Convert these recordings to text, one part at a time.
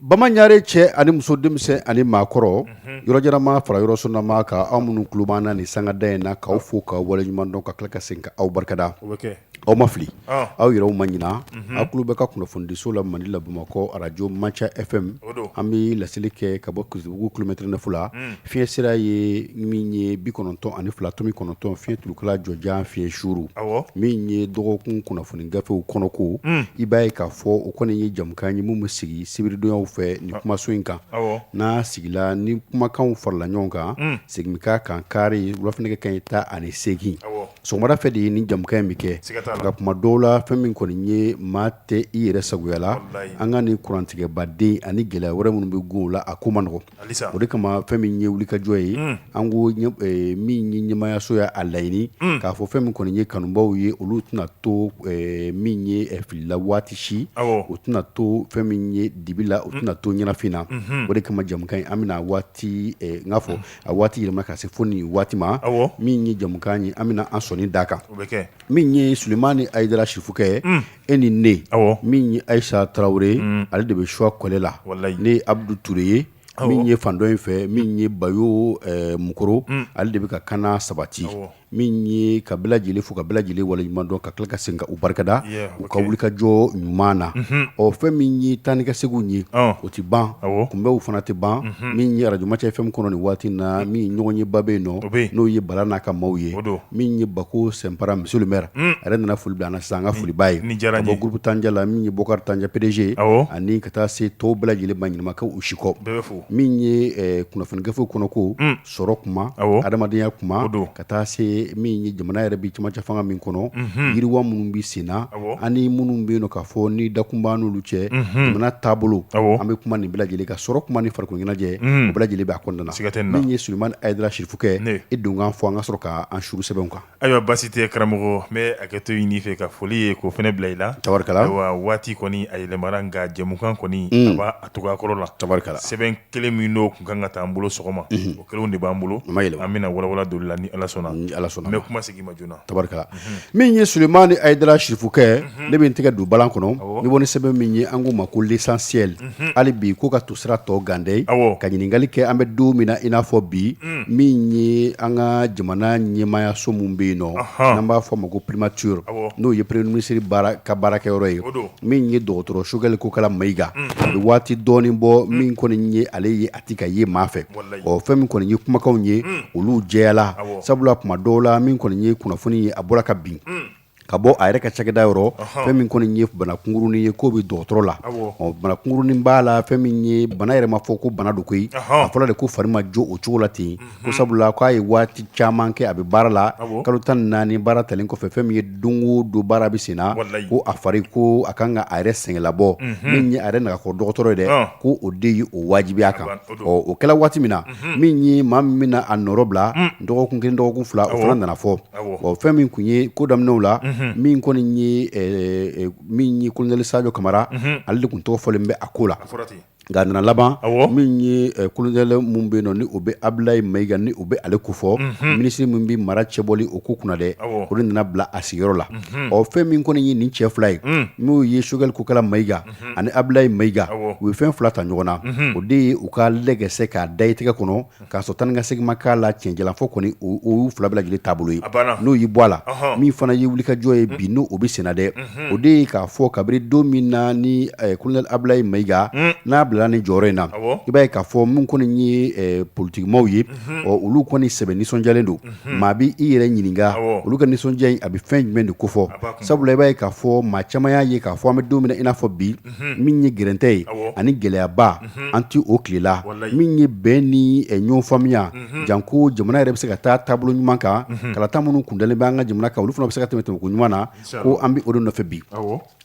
bamananre cɛ ani muso denmisɛn ani maa kɔrɔ yɔrɔjannamaa fara yɔrɔsurunnamaa kan aw minnu tulo b'an na ni sangada in na k'aw fo k'aw waleɲuman dɔn ka tila ka segin ka aw barikada aw ma fili aw yɛrɛ ma ɲina aw tulo bɛ ka kunnafonidiso la mali la bamakɔ arajo maca FM an bɛ laseli kɛ ka bɔ titibugu kilomɛtiri nɛfu la Fiɲɛ sira ye min ye bi kɔnɔntɔn ani fila tomi kɔnɔntɔn fiɲɛ turukala jɔjan fiɲɛ suru min ye dɔgɔkun kunnafoni gafew kɔnɔko i b'a ye k'a fɔ o kɔni ye jɛmukan ye min bɛ sigi sibiridon fɛ ni kumaso in kan n'a sigila ni kumakan farala ɲɔgɔn kan segin ka kan kari wula fɛ nɛgɛ kanɲɛ tan ani seegin sɔgɔmada fɛ de ye ni jɛmukan in bɛ kɛ nka tuma dɔw la fɛn min kɔni ye maa tɛ i yɛrɛ sagoya la an ka nin kurantigɛbaden ani gɛlɛya wɛrɛ minnu bɛ kow la a ko man nɔgɔ o de kama fɛn min ye wulikajɔ ye an ko min ye ɲɛmaayaso y'a laɲini k'a fɔ fɛn min kɔni ye kanubaw ye olu tɛna to min ye fili la waati si u tɛna to fɛn min ye dibi la u tɛna to ɲɛnafin na o de kama jɛmukan in an bɛna a waati n k'a fɔ a waati yɛlɛma ka se fo nin waati ma min ye jɛmukan ye an bɛna an sɔnin d' a kan min ye sulemani ayidara sirifukɛ ye e ni ne min ye ayisa tarawele ye ale de bɛ suwa kɔle la ne ye abudu tuure ye min ye fan dɔ in fɛ min ye bayo mokɔrɔ ale de bɛ ka kana sabati min ye k'a bɛɛ lajɛlen fo k'a bɛɛ lajɛlen waleɲuman dɔn ka tila ka segin k'u barikada u ka wulikajɔ ɲuman na ɔ fɛn min ye taa ni ka segin ye o tɛ ban kunbɛnw fana tɛ ban min ye arajo maca FM kɔnɔ nin waati na min ye ɲɔgɔnyeba bɛ yen nɔ n'o ye bala n'a ka maaw ye min ye bako sinpara monsieur le maire a yɛrɛ nana foli bila an san ka foliba ye diyara bɔ gurupu tanja la min ye bokari tanja pedeze ani ka taa se tɔw bɛɛ lajɛlen ma ɲina maa kɔ u si kɔ min ye kunnafoni gafe kɔnɔko sɔrɔ kuma adamadenya kuma don ka taa se min ye jamana yɛrɛ bɛ cɛmancɛ fanga min kɔnɔ yiriwa minnu bɛ senna ani minnu bɛ yen ka fɔ ni dakunba n'olu cɛ jamana taabolo an bɛ kuma nin bɛɛ lajɛlen kan sɔrɔ kuma ni farikoloɲɛnajɛ o bɛɛ lajɛlen b'a kɔnɔna na sɛgɛ min ye sulemani ayidara sirifu e dun k'an fo an ka sɔrɔ k'an suuru sɛbɛnw kan ayiwa basi tɛ karamɔgɔ mɛ a kɛtɔ ɲini fɛ ka foli ye ko fɛnɛ bila i la abarika waati kɔni a yɛlɛmana nka jɛmukan kɔni a b'a cogo kɔrɔ la abarika sɛbɛn kelen minnu tun ka kan ka ta an bolo sɔgɔma o kelenw de b'an bolo an bɛna walawala don la ni ala sɔnna ala sɔnna an bɛ kuma segin i ma joona abarika min ye sulemani ayidara sirifukɛ ne bɛ n tɛgɛ don bala kɔnɔ n bɛ bɔ ni sɛbɛn min ye an ko a ma ko l'essentiel hali bi k'u ka tusira tɔ ganden ka ɲininkali kɛ an bɛ don min na i n'a fɔ bi min ye an ka jamana ɲɛmaayaso minnu bɛ yen nɔ an b'a fɔ a ma ko pirimatiri n'o ye peremiye minisiri ka baarakɛyɔrɔ ye min ye dɔgɔtɔrɔ sogɛli kokala mayiga a bɛ waati dɔɔnin bɔ min kɔni ye ale ye ka ye maa fɛ ɔ fɛn min kɔni ye kumakanw ye olu jɛyala sabula tuma dɔw la min kɔni ye kunnafoni ye a bɔra ka bin ka bɔ a yɛrɛ ka cakɛda yɔrɔ fɛn min kɔni ye banakunkuruni ye k'o bɛ dɔgɔtɔrɔ la ɔ banakunkuruni b'a la fɛn min ye bana yɛrɛ ma fɔ ko bana don koyi a fɔra de ko fari ma jo o cogo la ten ko sabula k'a ye waati caman kɛ a bɛ baara la kalo tan naani baara talen kɔfɛ fɛn min ye don o don baara bɛ sen na ko a fari ko a ka kan ka a yɛrɛ sɛgɛnlabɔ min ye a yɛrɛ n'a ka dɔgɔtɔrɔ ye dɛ ko o de ye o wajibiya a kan ɔ o kɛra waati min na min ye maa min bɛna a nɔɔrɔ bila dɔgɔkun kelen dɔgɔkun fila o fana nana fɔ ɔ fɛn min tun ye ko daminɛw la min kɔni ye min ye kolonɛli Sajɔ Kamara ale de tun tɔgɔ fɔlen bɛ a ko la Nka nana laban min ye kolonɛli min bɛ yen ni o bɛ Abdulaye Mayiga ni o bɛ ale kofɔ minisiri min bɛ mara cɛbɔli o ko kunna dɛ k'o de nana bila a sigiyɔrɔ la ɔ fɛn min kɔni ye nin cɛ fila ye n'u ye Choguel Kokala Mayiga ani Abdulaye Mayiga u ye fɛn fila ta ɲɔgɔn na o de ye u ka lɛgɛsɛ k'a da i tɛgɛ kɔnɔ k'a sɔrɔ taa ni ka segin ma kɛ a la tiɲɛ jalan fɔ kɔni olu fila bɛɛ lajɛlen taabolo ye n'o y'i bɔ a la min fana ye wulikajɔ ye bi n'o bɛ sen na dɛ o de ye k'a fɔ kabini don min na ni kolonɛli Abdulaye Mayiga n'a bilala nin jɔyɔrɔ in na i b'a ye k'a fɔ min kɔni ye politikimaaw ye ɔ olu kɔni sɛbɛn nisɔndiyalen don maa bɛ i yɛrɛ ɲininka olu ka nisɔndiya in a bɛ fɛn jumɛn de kofɔ sabula i b'a ye k'a fɔ maa caman y'a ye k'a fɔ an bɛ don min na i n'a fɔ bi min ye gɛrɛntɛ ye ani gɛlɛyaba an tɛ o tile la min ye bɛn ni ɲɔn faamuya janko jamana yɛrɛ bɛ se ka taa taabolo ɲuman kan kalata minnu kun dalen bɛ an ka jamana kan olu fana bɛ se ka tɛmɛ cogo ɲuman na ko an bɛ o de nɔfɛ bi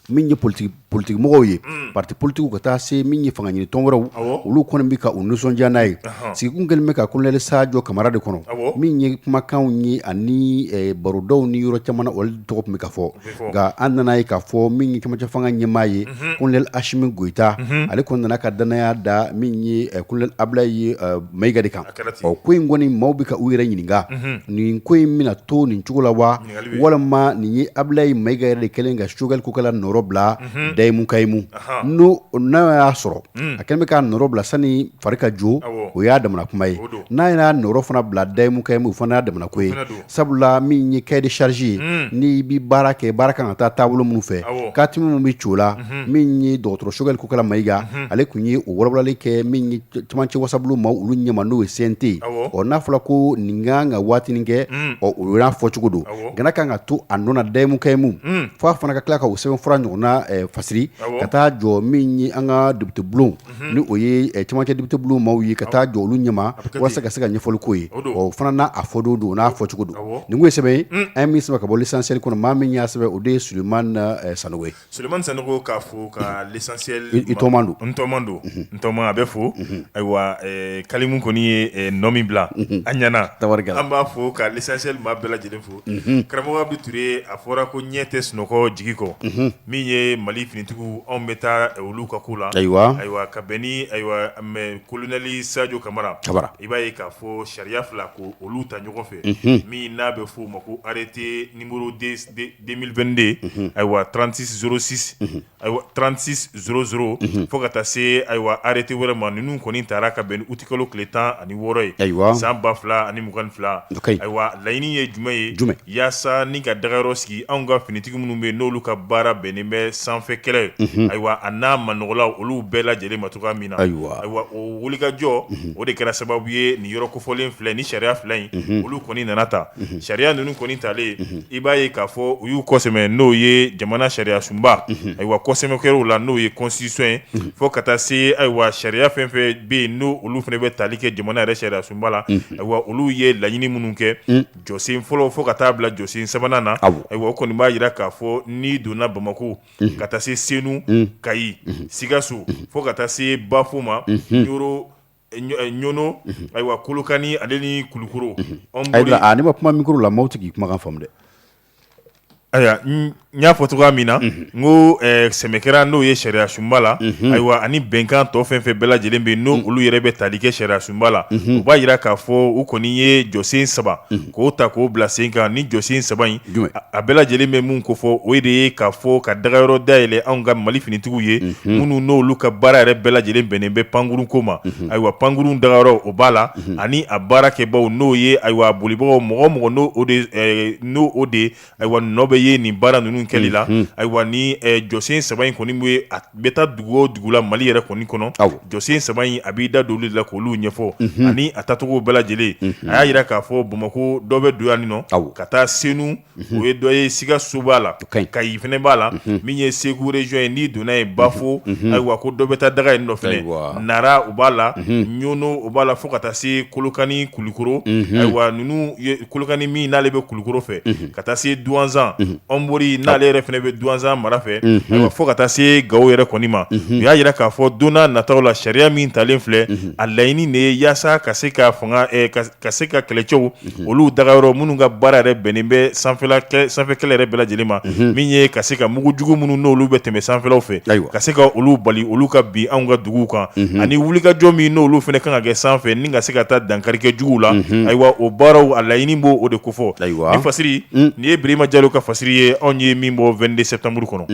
min ye politi politikimɔgɔw ye parti politikiw ka taa se min ye fanga ɲini tɔn wɛrɛw olu kɔni bɛ ka u nisɔndiya n'a ye sigi kun kɛlen bɛ ka kolonɛli Sajɔ Kamara de kɔnɔ min ye kumakanw ye ani barodaw ni yɔrɔ caman na ale tɔgɔ tun bɛ ka fɔ nka an nana a ye k'a fɔ min ye cɛmancɛ fanga ɲɛmaa ye, unhun, colonel Asimi Goyita, unhun, ale kɔni nana ka danaya da min ye colonel Abdulaye Mayiga de kan, a kɛra ten, ɔ ko in kɔni maaw bɛ ka u yɛrɛ ɲininka, unhun, nin ko in bɛna to nin cogo la wa, ɲininkali bɛ yen, walima nin ye Abdulaye Mayiga yɛrɛ de kɛlen ka Choguel Kokala nɔɔrɔ bila Dayimu Kayimu, unhun, n'o n'a y'a sɔrɔ a kɛlen bɛ k'a nɔɔrɔ bila sani fari ka jo, awɔ, o y'a damana kuma ye, o don, n'a y'a nɔɔrɔ fana bila Dayimu Kayimu o fana y'a damana ko ye, o fana don Sabula min ye cahier de charge ye ni i bɛ baara kɛ baara ka kan ka taa taabolo minnu fɛ ka tɛmɛ minnu bɛ cogo la min ye dɔgɔtɔrɔ Choguel Kokala Mayiga ale tun ye o walawalali kɛ min ye cɛmancɛ wasabulon maaw olu ɲɛ ma n'o ye CNT ɔ n'a fɔra ko nin ka kan ka waati kɛ ɔ o y'a fɔcogo don nka n'a ka kan ka to a nɔ na dayimu kayimu fo a fana ka tila ka o sɛbɛnfura ɲɔgɔnna fasiri ka taa jɔ min ye an ka depitebulon ni o ye camancɛ depitebulon maaw ye ka taa jɔ olu ɲɛ ma walasa ka se ka ɲɛfɔli k'o ye, o don, o fana n'a a fɔ don don o n'a fɔcogo don, awɔ, nin tun ye sɛbɛn ye an ye min sɛbɛn ka bɔ l'essentiel kɔnɔ maa min y'a sɛbɛn o de ye Sulemani Sanogo ye, Sulemani Sanogo k'a fo ka l'essentiel n tɔgɔma don, n tɔgɔma don, n tɔgɔma a bɛ fo, ayiwa Kalimu kɔni ye nɔ min bila, unhun, a ɲɛna, tabarikala, an b'a fo ka l'essentiel maa bɛɛ lajɛlen fo karamɔgɔ be ture a fɔra ko ɲɛ tɛ sunɔgɔ jigi kɔ min ye mali finitigiw anw bɛ taa olu ka ko la ayiwa ayiwa ka bɛn ni ayiwa mɛ kolonɛli sajo kamara ta i b'a ye k'a fɔ sariya fila k'olu ta ɲɔgɔn fɛ min n'a bɛ f'o ma ko arete nimero deux mille vingt-deux ayiwa trente-six zéro six Ayiwa trente-six zéro fo ka taa se ayiwa arete wɛrɛ ma ninnu kɔni tara ka bɛn uti kalo tile tan ani wɔɔrɔ ye ayiwa san ba fila ani mugan ni fila ayiwa laɲini ye jumɛn ye jumɛn yaasa ni ka dagayɔrɔ sigi anw ka finitigi minnu bɛ n'olu ka baara bɛnnen bɛ sanfɛ kɛlɛ ye ayiwa a n'a ma nɔgɔla olu bɛɛ lajɛlen ma cogoya min na ayiwa ayiwa o wulikajɔ o de kɛra sababu ye nin yɔrɔ kofɔlen filɛ ni sariya fila in olu kɔni nana ta sariya ninnu kɔni talen i b'a ye k'a fɔ u y'u kɔsɛmɛ n'o ye jamana sariya sunba ayiwa kɔsɛmɛ kɛra o la n'o ye kɔnsitisɔn ye fo ka taa se ayiwa sariya fɛn fɛn bɛ yen n'olu fana bɛ tali kɛ jamana yɛrɛ sariya sunba la ayiwa olu ye laɲini minnu kɛ jɔsen fɔlɔ fo ka taa bila jɔsen sabanan na ayiwa o kɔni b'a jira k'a fɔ ni donna bamakɔ ka taa se senu kayi sikaso fo ka taa se bafo ma y ɲɔnɔ ayiwa kolokani ale ni kulukoro n'i ma kuma mikoro la maaw tɛ k'i kumakan faamu dɛ ayiwa n y'a fɔ cogoya min na n kɔsɛmɛ kɛra n'o ye sariya sunba la ayiwa ani bɛnkan tɔ fɛn fɛn bɛɛ lajɛlen bɛ yen n'olu yɛrɛ bɛ tali kɛ sariya sunba la u b'a jira k'a fɔ u kɔni ye jɔsen saba k'o ta k'o bila sen kan nin jɔsen saba in a bɛɛ lajɛlen bɛ mun kofɔ o de ye k'a fɔ ka dagayɔrɔ dayɛlɛ anw ka mali finitigiw ye minnu n'olu ka baara yɛrɛ bɛɛ lajɛlen bɛnnen bɛ pankurun ko ma ayiwa pankurun dagayɔrɔ o b'a la ani a baarakɛbaaw n'o ye ayiwa a bolibagaw mɔgɔ o mɔgɔ n' n' o de ye ayiwa nɔ bɛ ye nin baara ninnu kɛli la ayiwa ni jɔsen saba in kɔni bɛ a bɛ taa dugu o dugu la mali yɛrɛ kɔni kɔnɔ jɔsen saba in a b'i da don olu la k'olu ɲɛfɔ ani a tacogo bɛɛ lajɛlen a y'a jira k'a fɔ bamakɔ dɔ bɛ don yan in nɔ ka taa senu o ye dɔ ye sikaso b'a la kayi fana b'a la min ye segu région ye ni donna ye bafo ayiwa ko dɔ bɛ taa daga yen in nɔ nara o b'a la ɲɔnɔ b'a la fo ka taa se kolokani kulukoro ayiwa ninnu kolokani min n'ale bɛ kulukoro fɛ ka taa se duwanzan ɔnbori n'ale yɛrɛ fana bɛ duwanzan mara fɛ fo ka taa se gawo yɛrɛ kɔni ma u y'a jira k'a fɔ don nataw la sariya min talen filɛ a laɲini de ye yaasa ka se ka ka se ka kɛlɛcɛw olu dagayɔrɔ minnu ka baara yɛrɛ bɛnnen bɛ sanfɛ kɛlɛ yɛrɛ bɛɛ lajɛlen ma min ye ka se ka mugujugu minnu n'olu bɛ tɛmɛ sanfɛlaw fɛ ka se ka olu bali olu ka bin anw ka dugu kan ani wulikajɔ min n'olu fana ka kan ka kɛ sanfɛ ni ka se ka taa dankari kɛ juguw la ayiwa o baaraw a laɲini b'o de kofɔ ayiwa fasiri nin ye birama jalo ka fasiri ye anw ye min bɔ 22 sɛtanburu kɔnɔ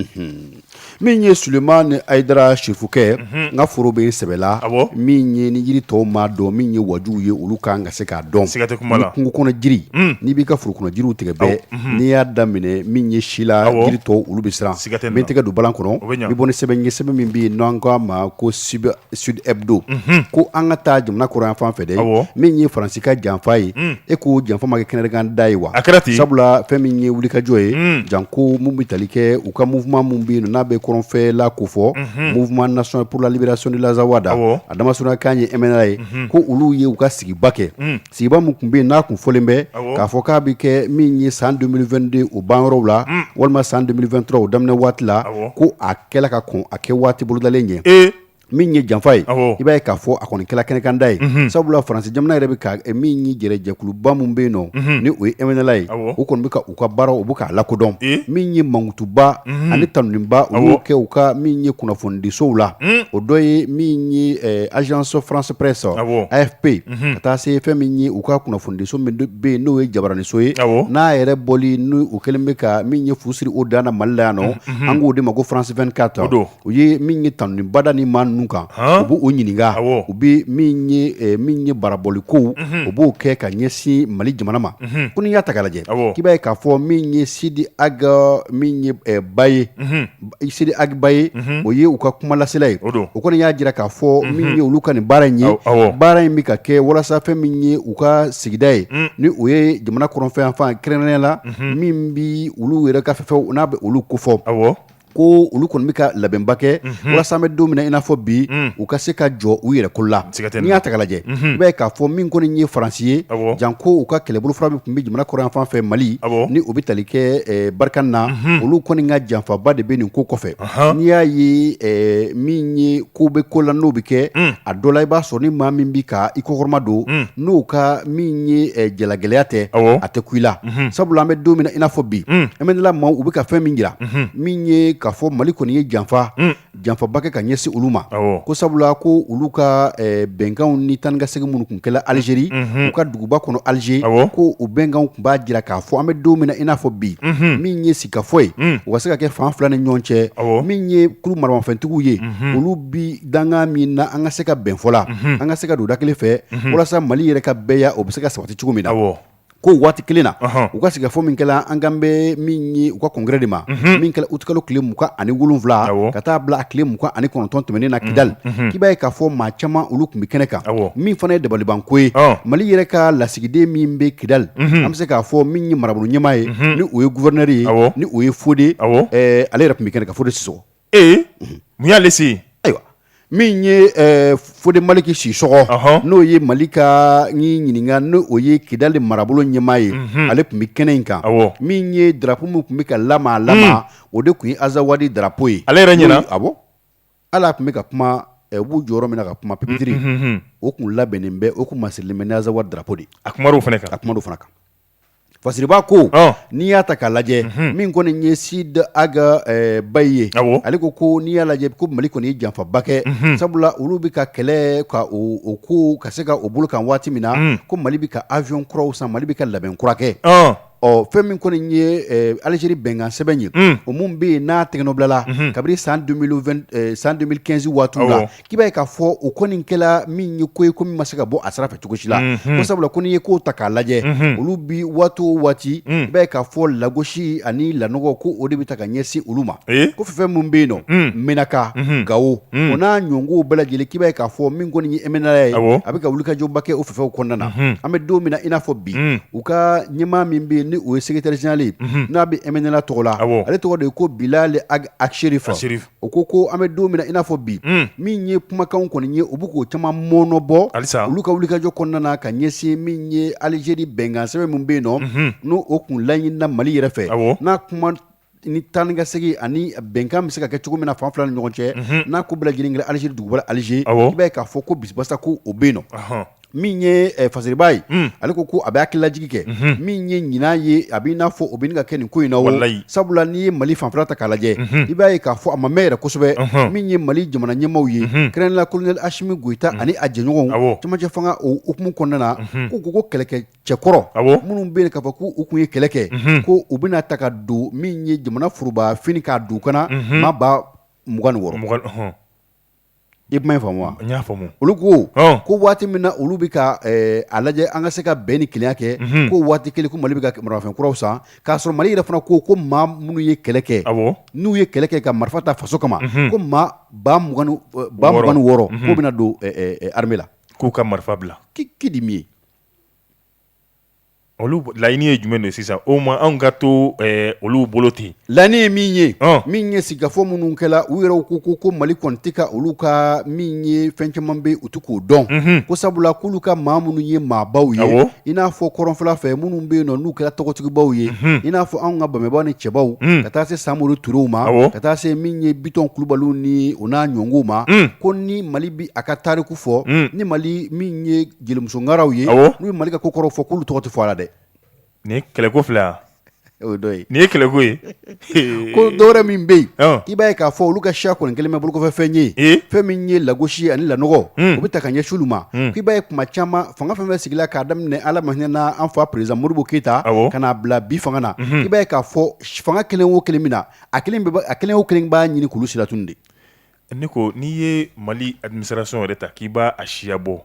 min ye sulemani ayidara sirifukɛ n ka foro bɛ sɛbɛla min ye ni jiri tɔw maa dɔn min ye waju ye olu kan ka se k'a dɔn sɛgɛte kungo kɔnɔ jiri n'i b'i ka foro kɔnɔ jiri tigɛ bɔ n'i y'a daminɛ min ye si la jiri tɔ olu bɛ siran sɛgɛte min tɛgɛ don bala kɔnɔ bɛ bɔ sɛbɛn ɲɛ sɛbɛn min bɛ yen n'an k'a ma ko sibi sudbu ko an ka taa jamana kɔrɔnyanfan fɛ dɛ min ye faransi ka janfa ye e k'o janfa ma kɛ kɛnɛkanda ye wa a kɛra ten sabula fɛn min ye wulikajɔ ye janko minnu bɛ tali kɛ u ka mouvement minnu bɛ yen n'a bɛ kɔrɔnfɛla kofɔ mouvement national pour la libération de l'azawad a dama sɔrɔ k'a ye MNLA ye ko olu ye u ka sigiba kɛ sigiba minnu tun bɛ yen n'a tun fɔlen bɛ k'a fɔ k'a bɛ kɛ min ye san 2022 o banyɔrɔw la walima san 2023 o daminɛ waati la kɛla ka kɔn a kɛwaati bolodalen ɲɛ ee min ye janfa ye i b'a ye k'a fɔ a kɔni kɛla kɛnɛkanda ye sabula faransi jamana yɛrɛ bɛ ka min ye jɛ jɛkuluba minnu bɛ yen nɔ ni o ye MNLA ye u kɔni bɛ ka u ka baara u bɛ k'a lakodɔn min ye mankutuba ani tanunba u kɛ u ka min ye kunnafonidisow la o dɔ ye min ye agence france presse AFP ye ka taa se fɛn min ye u ka kunnafonidiso min bɛ yen n'o ye jabaraniso ye n'a yɛrɛ bɔli n'o kɛlen bɛ ka min ye fu siri o dan na mali la yan nɔ an k'o de ma ko france 24 don u ye min ye tanuba da nin maa ninnu kan u b' u ɲininka u bɛ min ye barabɔli ko u b'o kɛ ka ɲɛsin mali jamana ma ko n'i y'a taa lajɛ k'i b'a ye k'a fɔ min ye sidi ag min ye baye sidi ag baye o ye u ka kumalasela ye o kɔni y'a jira k'a fɔ min ye olu ka nin baara in ye baara in bɛ ka kɛ walasa fɛn min ye u ka sigida ye ni o ye jamana kɔrɔnfɛ fan kɛrɛnkɛrɛnnenya la min bɛ olu yɛrɛ ka fɛ u n'a bɛ olu kofɔ aw ko olu kɔni bɛ ka labɛnba kɛ walasa an bɛ don min na i n'a fɔ bi u ka se ka jɔ u yɛrɛ ko la N'i y'a taa lajɛ i b'a ye k'a fɔ min kɔni ye faransi ye janko u ka kɛlɛbolo fɔlɔ min tun bɛ jamana kɔrɔnyanfan fɛ mali ni o bɛ tali kɛ barkhane na olu kɔni ka janfaba de bɛ nin ko kɔfɛ n'i y'a ye min ye ko bɛ ko la n'o bɛ kɛ a dɔ la i b'a sɔrɔ ni maa min bɛ ka i kɔkɔrɔmadon n'o ka min ye jalagɛlɛya tɛ a tɛ kun i la sabula an bɛ don min na i n'a fɔ bi MNLA maaw u bɛ ka fɛn min jira min ye k'a fɔ mali kɔni ye janfa janfaba kɛ ka ɲɛsin olu ma ko sabula ko olu ka bɛnkanw ni taa ni ka segin minnu tun kɛla alizeri u ka duguba kɔnɔ alize ko o bɛnkanw tun b'a jira k'a fɔ an bɛ don min na i n'a fɔ bi min ye sigikafɔ ye o ka se ka kɛ fan fila ni ɲɔgɔn cɛ min ye kulu maramafɛntigiw ye olu bi danga min na an ka se ka bɛn fɔ la an ka se ka don da kelen fɛ walasa mali yɛrɛ ka bɛɛya o bɛ se ka sabati cogo min na ko waati kelen na u ka sigikafɔ min kɛra an kan bɛ min ye u ka kɔngrɛ de ma min kɛla utikalo tile mugan ani wolowula ka taa bila a tile mugan ani kɔnɔntɔn tɛmɛnen na kidali k'i b'a ye k'a fɔ maa caman olu tun bɛ kɛnɛ kan min fana ye dabalibanko ye mali yɛrɛ ka lasigiden min bɛ kidali an bɛ se k'a fɔ min ye marabolo ɲɛmaa ye ni o ye gouverneur ye ni o ye fode ale yɛrɛ tun bɛ kɛnɛ kan fode sisɔgɔ ee mun y'ale se yen ayiwa min ye eh, fode maliki sisɔgɔ Ɔhɔn. n'o ye mali ka n y'i ɲininka n'o ye kidali marabolo ɲɛmaa ye ale tun bɛ kɛnɛ in kan Awɔ. min ye drapo min tun bɛ ka lamalama o de tun ye azawadi drapo ye Ale yɛrɛ ɲɛna? N'o ye- awɔ hali a tun bɛ ka kuma eh, u b'u jɔ yɔrɔ min na ka kuma pipitiri o tun labɛnnen bɛ o tun masirilen bɛ ni azawadi drapo de ye a kumar'o fana kan a kuma do fana kan Fasiriba ko n'i y'a ta k'a lajɛ min kɔni ye Sidi Ag Bayi ye ale ko ko n'i y'a lajɛ ko mali kɔni ye janfaba kɛ sabula olu bɛ ka kɛlɛ ka ko ka se ka o bolo kan waati min na ko mali bɛ ka aviyɔn kuraw san mali bɛ ka labɛn kura kɛ ɔ fɛn min kɔni ye alizeri bɛnkansɛbɛn ye o min bɛ yen n'a tɛgɛnɔbilala kabini san san deux mille quinze waati la k'i b'a ye k'a fɔ o kɔni kɛla min ye ko ye ko min ma se ka bɔ a sira fɛ cogo si la ko sabula ko n'i ye kow ta k'a lajɛ olu bi waati o waati i b'a ye k'a fɔ lagosi ani lanɔgɔ ko o de bɛ taa ka ɲɛsin olu ma ko fɛn minnu bɛ yen nɔ menaka gawo o n'a ɲɔgɔnkow bɛɛ lajɛlen k'i b'a ye k'a fɔ min kɔni ye ɛmɛnɛla ye a bɛ ka wulikajɔba kɛ o fanfɛw kɔnɔna na an bɛ don min na i n'a fɔ bi u ka ɲɛmaa min bɛ yen ni o ye secrétaire général ye n'a bɛ ɛmɛnɛla tɔgɔ la ale tɔgɔ de ye ko Bilali Ag Acherif. o ko ko an bɛ don min na i n'a fɔ bi min ye kumakanw kɔni ye u bɛ k'o caman mɔnɔbɔ halisa olu ka wulikajɔ kɔnɔna ka ɲɛsin min ye alizeri bɛnkansɛbɛn min bɛ yen nɔ n'o kun laɲinina mali yɛrɛ fɛ n'a kuma ni taanikasegin ani bɛnkan bɛ se ka kɛ cogo min na fan fila ni ɲɔgɔn cɛ n'a ko bɛɛ lajɛlen kɛla alizeri duguba la alize i b'a ye k'a fɔ ko bisibasa ko o bɛ yen nɔ min ye eh, fasiriba ye mm. ale ko ko a bɛ hakililajigi kɛ mm -hmm. min ye ɲina ye a b'i n'a fɔ o bɛ ka kɛ nin ko in na o sabula n'i ye mali fanfɛla ta k'a lajɛ mm -hmm. i b'a ye k'a fɔ a ma mɛn yɛrɛ kosɛbɛ uh -huh. min ye mali jamana ɲɛmaw ye mm -hmm. kɛrɛnla kolonɛli asimi goyita mm -hmm. ani a jɛɲɔgɔnw cɛmancɛ fanga o hukumu kɔnɔna na mm -hmm. ko ko ko kɛlɛkɛ cɛkɔrɔ minnu bɛ yen k'a fɔ ko u kun ye kɛlɛ kɛ mm -hmm. ko u bɛna ta ka don min ye jamana foroba fini k'a don kan na mm -hmm. maa ba mugan ni wɔɔrɔ I kuma faamu n y'a faamumu olu ko ko waati min na olu bɛ ka a lajɛ an ka se ka bɛn ni kelenya kɛ ko waati kelen ko mali bɛ ka maramafɛn kuraw san k'a sɔrɔ mali yɛrɛ fana ko ko maa minnu ye kɛlɛ kɛ n'u ye kɛlɛ kɛ ka marifa ta faso kama ko maa ba ba mugan ni wɔɔrɔ ko bɛna don arame la k'u ka marifa bila kidi min ye Olu laɲini ye jumɛn de sisan o ma anw ka to olu bolo ten laɲini ye min ye min ye sigikafɔ minnu kɛra u yɛrɛ ko ko ko mali kɔni tɛ ka olu ka min ye fɛn caman bɛ u tɛ k'o dɔn ko sabula k'olu ka maa minnu ye maabaw ye i n'a fɔ kɔrɔnfɛla fɛ minnu bɛ yen na n'u kɛra tɔgɔtigibaw ye i n'a fɔ anw ka babɛnba ni cɛbaw ka taa se samori turew ma ka taa se min ye bitɔn kulubaliw ni u n'a ɲɔgɔnw ma ko ni mali bɛ a ka tariku fɔ ni mali min ye jelimusokaw ye n'u ye mali ko kɔrɔ fɔ k'olu tɔgɔ tɛ fɔ a la dɛ nin kɛlɛko fila nin ye kɛlɛko ye ko dɔw min bɛ yen i b'a ye k'a fɔ olu ka siya kɔni kɛlen bɛ bolokɔfɛ fɛn ye fɛn min ye lagosi ani la o bɛ taa ka ɲɛsin olu ma k'i b'a ye kuma caman fanga fɛn bɛ sigi k'a daminɛ ala ma hinɛ an fa perezidan modibo keyita k'a bila bi fanga na i b'a k'a fɔ fanga kelen wo kelen min nana a kelen o kelen b'a ɲini k'olu silatunun de Ne ko n'i ye mali administration yɛrɛ ta k'i b'a a siya bɔ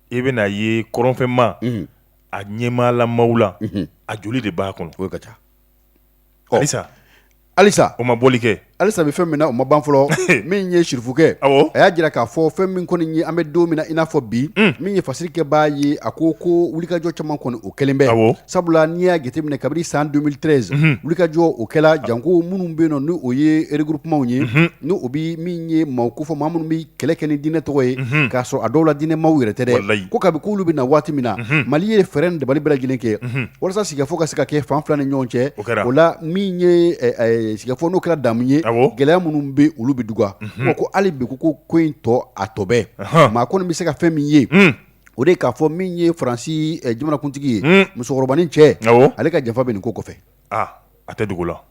e bɛna a ye kɔrɔnfɛ maa ɲɛmaalamaw la a joli de b'a kɔnɔ o ka ca alisa alisa o ma bɔli kɛ alisa bɛ fɛn min na o ma ban fɔlɔ min ye sirifukɛ a y'a jira k'a fɔ fɛn min kɔni ye an bɛ don min na i n'a fɔ bi min ye fasiri kɛ b'a ye a ko ko wulikajɔ caman kɔni o kɛlen bɛ Sabula n'i y'a jateminɛ kabini san 2013 unhun wulikajɔ o kɛla janko minnu be yennɔ ni o ye regroupementw ye unhun ni o bi min ye maaw ko fɔ maa minnu bi kɛlɛ kɛ ni diinɛ tɔgɔ ye unhun k'a sɔrɔ a dɔw la diinɛ maaw yɛrɛ tɛ dɛ walahi ko kabi k'olu bena waati min na unhun Mali ye fɛɛrɛ ni dabali bɛɛ lajɛlen kɛ unhun walasa sigikafɔ ka se ka kɛ fan 2 ni ɲɔgɔn cɛ o kɛra o la min ye ɛ ɛ e sigikafɔ n'o kɛra damu ye awɔ gɛlɛya minnu be olu be duga unhun bon ko hali bi ko ko ko in tɔ a tɔ bɛ ɔnhɔn maa kɔni be se ka fɛn min ye unnn o de k'a fɔ min ye faransi jamanakuntigi ye musokɔrɔbanin cɛ awɔ ale ka janfa bɛ nin ko kɔfɛ a tɛ dogo la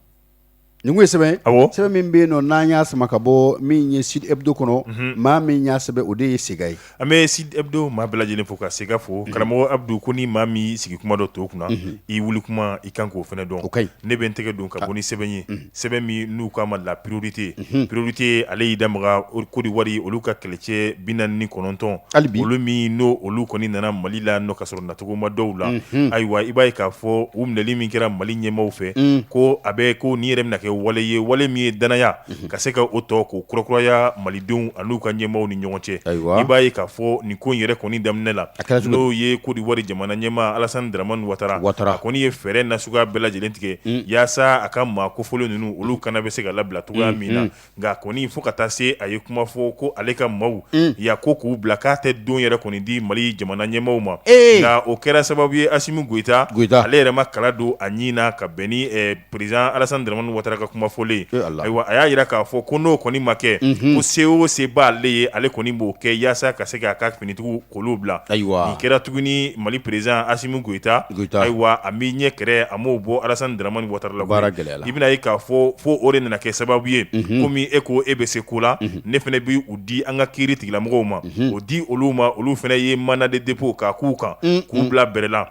nin ye sɛbɛn awɔ sɛbɛn min bɛ yen nɔn n'an y'a sama ka bɔ min ye sud hebdo kɔnɔ maa min y'a sɛbɛn o de ye sega ye an bɛ sud hebdo maa bɛɛ lajɛlen fo ka sega fo karamɔgɔ abudu ko ni maa min sigi kuma dɔn to kunna i wuli kuma i kan k'o fana dɔn ne bɛ n tɛgɛ don ka bɔ ni sɛbɛn ye sɛbɛn min n'u k'a ma la priorite priorite ale y'i da maga kodiwari olu ka kɛlɛcɛ bi naani ni kɔnɔntɔn hali olu min n'o olu kɔni nana mali la ka sɔrɔ natugoma dɔw la ayiwa i b'a ye k'a fɔ u minɛli min kɛra mali ɲɛmaaw fɛ ko a bɛ ko nin yɛrɛ na kɛ wale ye wale min ye dannaya ka se ka o tɔ ko kurakuraya mali denw ani u ka ɲɛmaaw ni ɲɔgɔn cɛ ayiwa i b'a ye k'a fɔ nin ko yɛrɛ kɔni daminɛ la a kɛra n'o ye kodiwari jamana ɲɛmaa alasani daramani watara a kɔni ye fɛɛrɛ nasuguya bɛɛ lajɛlen tigɛ yaasa a ka maa kofɔlen ninnu olu kana bɛ se ka labila cogoya min na nka a kɔni fo ka taa se a ye kuma fɔ ko ale ka maaw ya ko k'u bila k'a tɛ don yɛrɛ kɔni di mali jamana ɲɛmaaw ma ee o kɛra sababu ye asimi goyita ale yɛrɛ ma kala don a ɲin na ka bɛn président alassane dramane watara ka kuma fɔlen ayiwa a y'a jira k'a fɔ ko n'o kɔni ma kɛ ko se o se b'ale ye ale kɔni b'o kɛ walasa ka se k'a ka finitigiw k'olu bila ayiwa a kɛra tuguni mali président asimi goyita ayiwa a m'a ɲɛ kɛrɛ a m'o bɔ alassane dramane watara baara gɛlɛla i bɛn'a ye k'a fɔ fo o de nana kɛ sababu ye komi e ko e bɛ se ko la ne fana b' u di an ka kiiritigɛlamɔgɔw ma o di olu ma olu fana ye mandat de dépôt kan k'u kan k'u bila bɛrɛla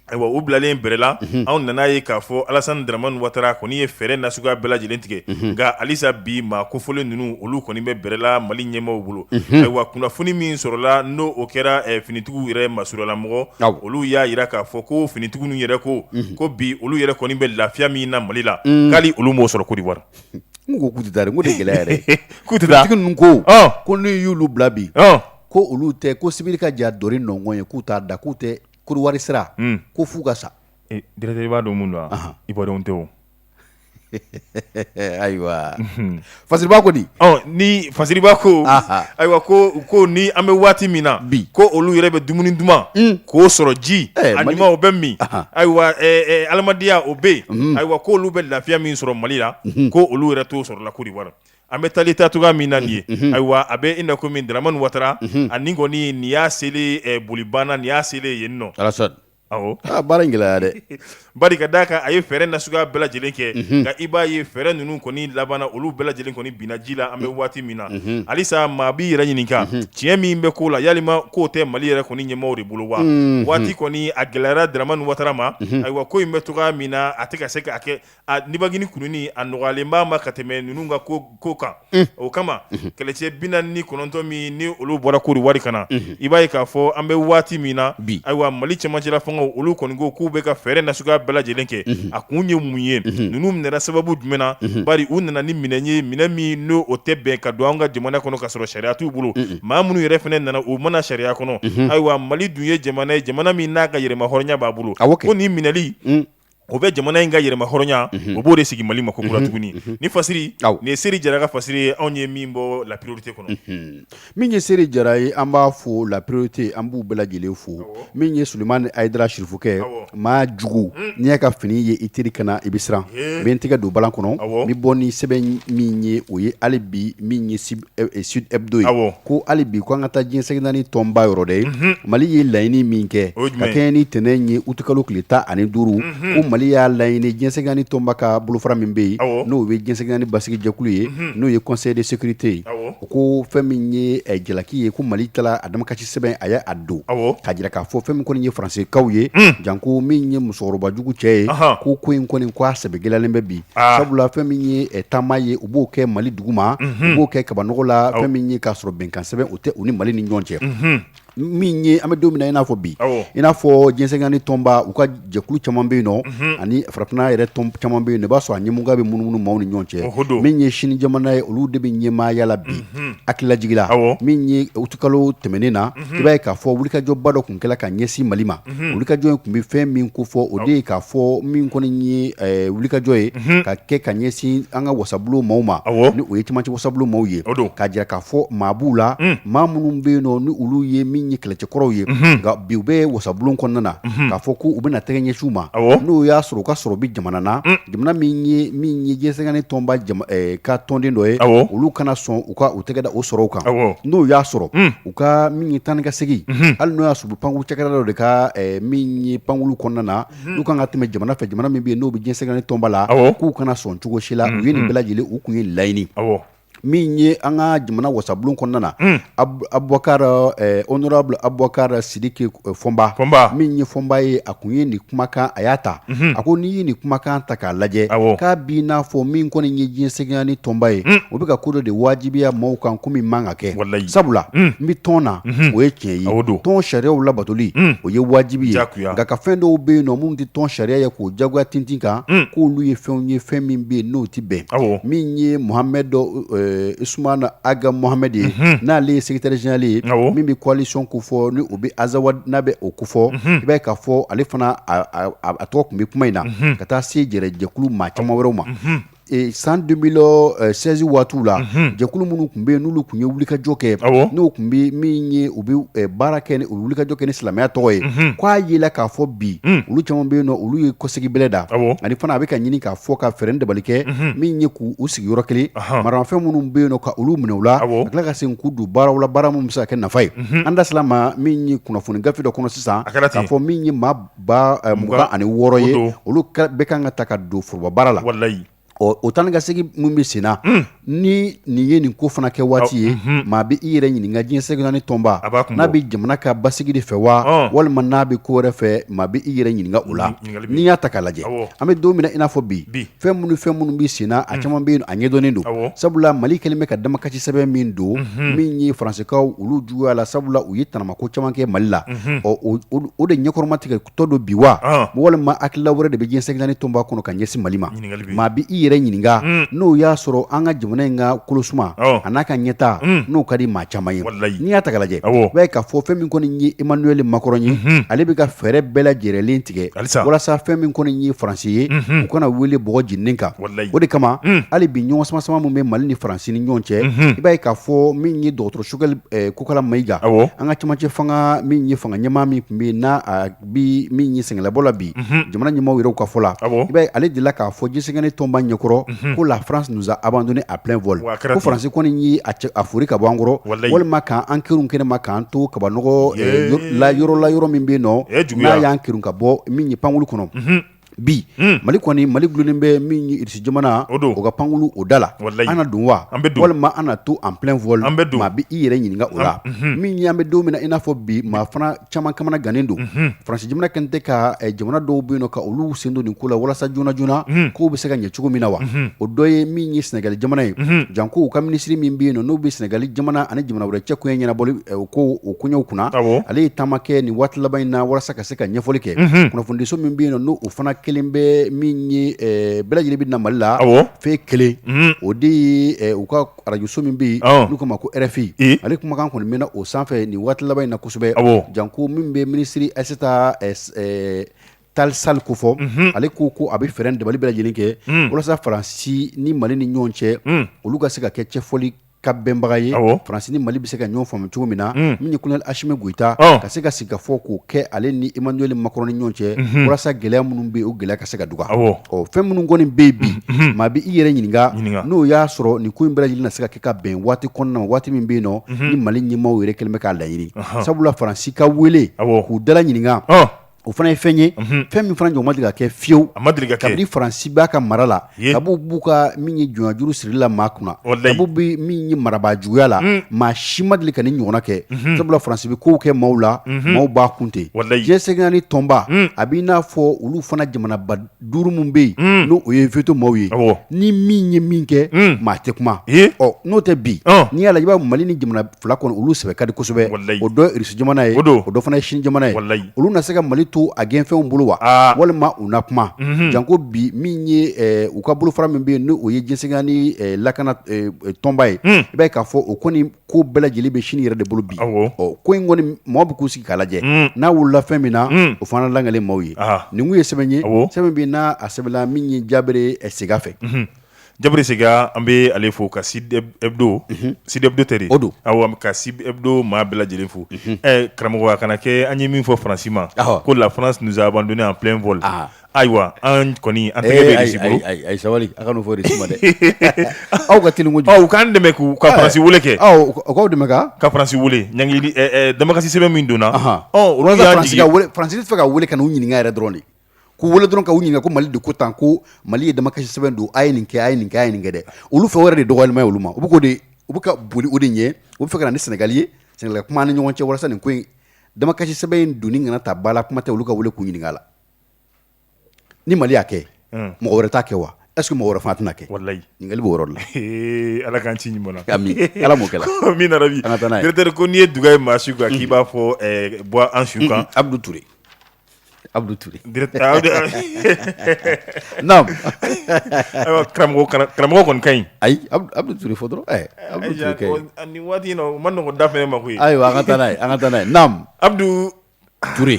Ayiwa u bilalen bɛrɛla anw nan'a ye k'a fɔ alassane dramane watara kɔni ye fɛɛrɛ nasuguya bɛɛ lajɛlen tigɛ nka halisa bi maa kofɔlen ninnu olu kɔni bɛ bɛrɛla mali ɲɛmaaw bolo ayiwa kunnafoni min sɔrɔla n'o kɛra finitigiw yɛrɛ masurunnamɔgɔ olu y'a jira k'a fɔ ko finitigiw yɛrɛ ko ko bi olu yɛrɛ kɔni bɛ lafiya min na mali la hali olu m'o sɔrɔ kodiwari n ko kutari ko gɛlɛya yɛrɛtigi ko ko n'i y'olu bila bi ko olu tɛ ko sibi ka ja dɔ nɔn ye k'u t'a da k'u tɛ kodiwari sira ko fo ka sa i b'a dɔn minnu don i bɔdenw tɛ ayiwa fasiriba ko di ni fasiriba ko ayiwa ko kɔni an bɛ waati min na bi ko olu yɛrɛ bɛ dumuni duman k'o sɔrɔ ji ɲuman o bɛ min ayiwa adamadenya o bɛ yen ayiwa ko olu bɛ lafiya min sɔrɔ mali la ko olu yɛrɛ t'o sɔrɔ la kodiwari An bɛ taa ta cogoya min na ye ayiwa a bɛ i na kɔmi dramane watara ani kɔni nin y'a seli boli banna nin y'a seli yen nɔ baara in gɛlɛya dɛ bari ka d'a kan a ye fɛɛrɛ nasuguya bɛɛ lajɛlen kɛ nka i b'a ye fɛɛrɛ ninnu kɔni labanna olu bɛɛ lajɛlen kɔni binna ji la an bɛ waati min na halisa maa b'i yɛrɛ ɲininka tiɲɛ min bɛ ko la yala k'o tɛ mali yɛrɛ kɔni ɲɛmɔgɔ de bolo wa waati kɔni a gɛlɛyara dramane watara ma ayiwa ko in bɛ taa min na a tɛ ka se k' kɛ nivakini kununi a nɔgɔyalen b'a ma ka tɛmɛ ninnu ka ko kan o kama kɛlɛcɛ bi naani ni kɔnɔntɔn min ni olu bɔra kodiwari ka na i b'a ye k'a fɔ an bɛ waati min na bi ayiwa mali cɛmancɛ la fanga olu kɔni ko k'u bɛ ka fɛɛrɛ nasuguya bɛɛ lajɛlen kɛ a kun ye mun ye ninnu minɛna sababu jumɛn na bari u nana ni minɛn ye minɛn min n'o tɛ bɛn ka don an ka jamana kɔnɔ ka sɔrɔ sariya t'u bolo maa minnu yɛrɛ fana nana u ma na sariya kɔnɔ ayiwa mali dun ye jamana ye jamana min n'a ka yɛrɛmahɔrɔnya b'a bolo a ko nin minɛli o bɛ jamana in ka yɛrɛmahɔrɔnya o b'o de sigi mali ma kokura tuguni ni fasiri nin ye seri jara ka fasiri ye anw ye min bɔ la priorité kɔnɔ min ye seri jara ye an b'a fo la priorité an b'u bɛɛ lajɛlen fo min ye suleman ayidara sirifukɛ maa jugu n'i y'a ka fini ye i teri kana na i bɛ siran bɛn tɛgɛ don bala kɔnɔ bɛ bɔ ni sɛbɛn min ye o ye hali bi min ye Sud Hebdo ye, awɔ, ko hali bi ko an ka taa diɲɛ seleke naani tɔnba yɔrɔ dɛ, unhun, Mali ye laɲini min kɛ, o ye jumɛn ye, ka kɛɲɛ ni ntɛnɛn ye aout kalo tile tan ani duuru, unhun, ko Mali y'a laɲini diɲɛ seleke naani tɔnba ka bolofara min bɛ yen, awɔ, n'o ye diɲɛ seleke naani basigi jɛkulu ye, unhun, n'o ye conseil de sécurité ye, awɔ, u ko fɛn min ye jalaki ye ko Mali taara a damakasi sɛbɛn a y' a don k'a jira k'a fɔ fɛn min kɔni ye faransekaw ye janko min ye musokɔrɔbajugu cɛ ye ko ko in kɔni sɛbɛ gɛlɛyalen bɛ bi sabula fɛn min ye taama ye u b'o kɛ mali duguma u b'o kɛ kabanɔgɔ la fɛn min ye k'a sɔrɔ bɛnkan sɛbɛn o tɛ u ni mali ni ɲɔgɔn cɛ min ye an bɛ don min na i n'a fɔ bi i n'a fɔ diɲɛ seleke naani tɔnba u ka jɛkulu caman bɛ yen nɔ ani farafinna yɛrɛ tɔn caman bɛ yen nɔ i b'a sɔrɔ a ɲɛmɔgɔya bɛ munumunu maaw ni ɲɔgɔn cɛ o don min ye sini jamana ye olu de bɛ ɲɛmaaya la bi hakilijigin na min ye utikalo tɛmɛnen na i b'a ye k'a fɔ wulikajɔba dɔ tun kɛra ka ɲɛsin mali ma wulikajɔ in tun bɛ fɛn min ko fɔ o de ye k'a fɔ min kɔni ye wulikajɔ ye ka kɛ ka ɲɛsin an ka wasabulon maaw ma ni o ye camancɛ wasabulon maaw ye o don k'a jira k'a fɔ maabu la maa minnu bɛ yen nɔ ni olu ye min ye kɛlɛcɛ kɔrɔw ye nka bi u bɛ wasabulon kɔnɔna na k'a fɔ ko u bɛna na tɛgɛ ɲɛsin u ma n'o y'a sɔrɔ u ka sɔrɔ bɛ jamana na jamana min ye diɲɛ seleke naani tɔnba ka tɔnden dɔ ye olu kana sɔn u ka u tɛgɛ da o sɔrɔw kan n'o y'a sɔrɔ u ka min ye taa ka segin hali n'o y'a sɔrɔ u pankulu cakɛda dɔ de ka min ye pankulu kɔnɔna na u kana tɛmɛ jamana fɛ jamana min bɛ yen n'o bɛ diɲɛ seleke naani tɔnba la k'u kana sɔn cogosi la u ye nin bɛɛ lajɛlen u tun ye laɲini min ye an ka jamana wasabulon kɔnɔna na honorable abubakar sidiki fɔnba min ye fɔnba ye a tun ye nin kumakan a y'a ta a ko n'i ye nin kumakan ta k'a lajɛ k'a bi n'a fɔ min kɔni ye diɲɛ seleke naani tɔnba ye o bɛ ka ko dɔ de wajibiya maaw kan ko min man ka kɛ sabula n bɛ tɔn na o ye tiɲɛ ye o don tɔn sariyaw labatoli o ye wajibi ye juguya nka ka fɛn dɔw bɛ yen nɔ minnu tɛ tɔn sariya ye k'o jagoya tintin kan mm. k'olu ye fɛnw ye fɛn min bɛ yen n'o tɛ bɛn min ye muhamɛd dɔ eh, usumana aga muhamɛd ye mhm. n'ale ye secrétaire général ye min bɛ coalition ko fɔ ni o bɛ azawad n'a bɛ o ko fɔ mhm. i b'a ye k'a fɔ ale fana a tɔgɔ tun bɛ kuma in na mhm. ka taa se jɛrɛ jɛkulu maa caman wɛrɛw ma San deux mille seize waati la jɛkulu minnu tun bɛ yen n'olu tun ye wulikajɔ kɛ n'o tun bɛ min ye u bɛ baara kɛ wulikajɔ kɛ ni silamɛya tɔgɔ ye ko a yera k'a fɔ bi olu caman bɛ yen olu ye kɔsegin bɛ da ani fana a bɛ ka ɲini k'a fɔ ka fɛɛrɛ dabali kɛ min ye k'u sigi yɔrɔ kelen maramafɛn minnu bɛ yen ka olu minɛ u la tila ka segin k'u don baaraw la baara min bɛ se ka kɛ nafa ye an da ma min ye kunnafoni gafe dɔ kɔnɔ sisan a kɛra' fɔ min ye maa ba eh, mugan ani wɔɔrɔ ye olu bɛ kan ka ta ka don forobabaara la walayi ɔ o taa ni ka segin min bɛ sen na hmm. ni nin ye nin ko fana kɛ waati ye hmm. maa bɛ i yɛrɛ ɲininka diɲɛ seleke naani tɔnba n'a bɛ jamana ka basigi de fɛ wa walima n'a bɛ ko wɛrɛ fɛ maa bɛ i yɛrɛ ɲininka o la n'i y'a ta k'a lajɛ an bɛ don min na i n'a fɔ bi fɛn minnu fɛn minnu bɛ senna a mm. caman bɛ yen a ɲɛdɔnnen don sabula mali kɛlen bɛ ka damakasi sɛbɛn min don mm-hmm. min ye faransikaw olu juguya la sabula u ye tanamako caman kɛ mali la mm-hmm. ɔ o de ɲɛkɔrɔma tigɛ tɔ don bi wa ah. walima hakilila wɛrɛ de bɛ diɲɛ seleke naani tɔnba kɔnɔ ka ɲɛsin mali ma maa bɛ i yɛrɛ ɲininka mm. n'o y'a sɔrɔ an ka jamana in ka kolosuma oh. an'a ka ɲɛtaa mm. n'o ka di maa caman ye n'i y'a ta ka lajɛ i b'a ye k'a fɔ fɛn min kɔni ye emmanuel macron ye mm-hmm. ale bɛ ka fɛɛrɛ bɛɛ lajɛrɛlen tigɛ walasa fɛn min kɔni ye faransi ye u kana wele b jeni kan o de kama hali bi ɲɔgɔn samasama min bɛ mali ni faransi ni ɲɔgɔn cɛ i b'a ye k'a fɔ min ye dɔgɔtɔrɔ choguel kokalla maïga an ka cɛmancɛ fanga min ye fanga ɲɛmaa min tun bɛ yen n'a bɛ min ye sɛgɛnlabɔ la bi jamana ɲɛmaaw yɛrɛ ka fɔ la ale delila k'a fɔ diɲɛ seleke naani tɔnba ɲɛkɔrɔ ko la france nous a abandonné en plein vol ko faransi kɔni ye a foori ka bɔ an kɔrɔ walima k'an kerun kɛnɛ ma k'an to kabanɔgɔ yɔrɔ la yɔrɔ min bɛ nɔ n'a y'an kerun ka bɔ min ye pankurun kɔnɔ bi mali kɔni mali dulonnen bɛ min ye irisi jamana o ka pankurun o da la an na don wa walima an na to en plein vol maa bɛ i yɛrɛ ɲininka o la min ye an bɛ don min na i n'a fɔ bi maa fana caman kamanagannen don faransi jamana kɛlen tɛ ka jamana dɔw bɛ yen ka olu sen don nin ko la walasa joona joonana ko bɛ se ka ɲɛ cogo min na wa o dɔ ye min ye sɛnɛgali jamana ye janko o ka minisiri min bɛ yen n'o bɛ sɛnɛgali jamana ani jamana wɛrɛ cɛ koɲɛ ɲɛnabɔli ko o koɲɛw kunna ale ye taama kɛ nin waati laban in na walasa ka se ka ɲɛfɔli kɛ kunnafonidiso min bɛ yen n' o fana kɛlen bɛ min ye bɛɛ lajɛlen bɛ na mali la fɛn kelen o de ye u ka arajoso min bɛ yen n'u k'a ma ko rfi ale kumakan kɔni mɛnna o sanfɛ nin waati laban in na kosɛbɛ janko min bɛ minisiri aïssata tall sall kofɔ ale ko ko a bɛ fɛɛrɛ dabali bɛɛ lajɛlen kɛ walasa faransi ni mali ni ɲɔgɔn cɛ olu ka se ka kɛ cɛfɔli ka bɛnbaga ye faransi ni mali bɛ se ka ɲɔgɔn faamu cogo min na min ye colonel assimi goïta ka se ka sigikafɔ ko kɛ ale ni emmanuel macron ni ɲɔgɔn cɛ walasa gɛlɛya minnu bɛ o gɛlɛya ka se ka dɔgɔya Ɔ fɛn minnu kɔni bɛ bi maa bɛ i yɛrɛ ɲininka n'o y'a sɔrɔ nin ko in bɛ ɲini se ka kɛ ka bɛn waati kɔnɔna waati min bɛ yen nɔ ni mali ɲɛmaaw yɛrɛ kɛlen bɛ k'a laɲini sabula faransi ka wele k'u dala ɲininka o fana ye fɛn ye fɛn min fana ɲɔgɔn ma deli ka kɛ fiyewu kabini faransi b'a ka mara la a b'u b'u ka min ye jɔj sigi la maa kunna dabu bɛ min ye marabaa juguya la maa si ma deli ka nin ɲɔgɔnna kɛ sabula faransi bɛ kow kɛ maaw la maaw b'a kun ten diɲɛ seleke naani tɔnba a bɛ n'a fɔ olu fana jamanaba duuru minnu bɛ yen n'o ye veto maaw ye ni min ye min kɛ maa tɛ kuma ɔ n'o tɛ bi n'i y'a lajɛ i b'a mali ni jamana fila kɔnɔ olu sɛbɛ ka di kosɛbɛ o dɔ Rusi jamana ye o don o dɔ fana Sini jamana ye yala olu na se ka mali to a gɛnfɛnw bolo wa walima u na kuma janko bi min ye u ka bolofara min bɛ yen n' o ye diɲɛ seleke naani lakana tɔnba ye i b'a k'a fɔ o kɔni ko bɛɛ lajɛlen bɛ Sini yɛrɛ de bolo bi ɔ ko in kɔni mɔgɔ bɛ k'u sigi k'a lajɛ n'a wulila fɛn min na o fana lakali maaw ye nin ye sɛbɛn ye sɛbɛn bɛ n'a a sɛbɛnna min ye jaabere Sega fɛ Jabri Sega an bɛ ale fo ka Sud Hebdo Sud Hebdo tɛ o don aw ka Sud Hebdo maa bɛɛ lajɛlen fo karamɔgɔ a kana kɛ an ye min fɔ Faransi ma ko la France nous a abandonnés en plein vol ayiwa an kɔni an ayi sabali a ka fɔ Sini ma dɛ aw ka teli aw k'an dɛmɛ ka Faransi weele kɛ aw k'an dɛmɛ ka kasi damakasi sɛbɛn min donna Sini fɛ ka weele ka u ɲininka yɛrɛ dɔrɔn de k'u wele dɔrɔn ka u ɲininka ko Mali de ko tan ko Mali ye damakasi sɛbɛn don a ye nin kɛ a ye nin kɛ a ye nin kɛ dɛ olu fɛ o yɛrɛ de dɔgɔyalima ye olu ma u bɛ k'o de u bɛ ka boli o de ɲɛ u bɛ fɛ ka na ni Senegal ye Senegal ka kuma an ni ɲɔgɔn cɛ walasa nin ko in damakasi sɛbɛn in donni kana ta ba la kuma tɛ olu ka wele k'u ɲininka yala ni Mali y'a kɛ mɔgɔ wɛrɛ t'a kɛ wa est ce que mɔgɔ wɛrɛ fana tɛna kɛ walayi ɲininkali b'o yɔrɔ de la Ala k'an ci ɲuman na ami Ala m'o kɛ la amiina yarabi directeur ko n'i ye duga ye maa su kan k'i b'a fɔ bɔ an su kan Abdou Toure Abudu Ture namu ayiwa karamɔgɔ kana karamɔgɔ kɔni ka ɲi ayi Abudu Abudu Ture fɔ dɔrɔn ɛɛ Abudu Ture ka ɲi ɔ nin waati in na o man nɔgɔn da fɛnɛ ma koyi ayiwa an ka taa n'a ye an ka taa n'a ye namu Abudu Ture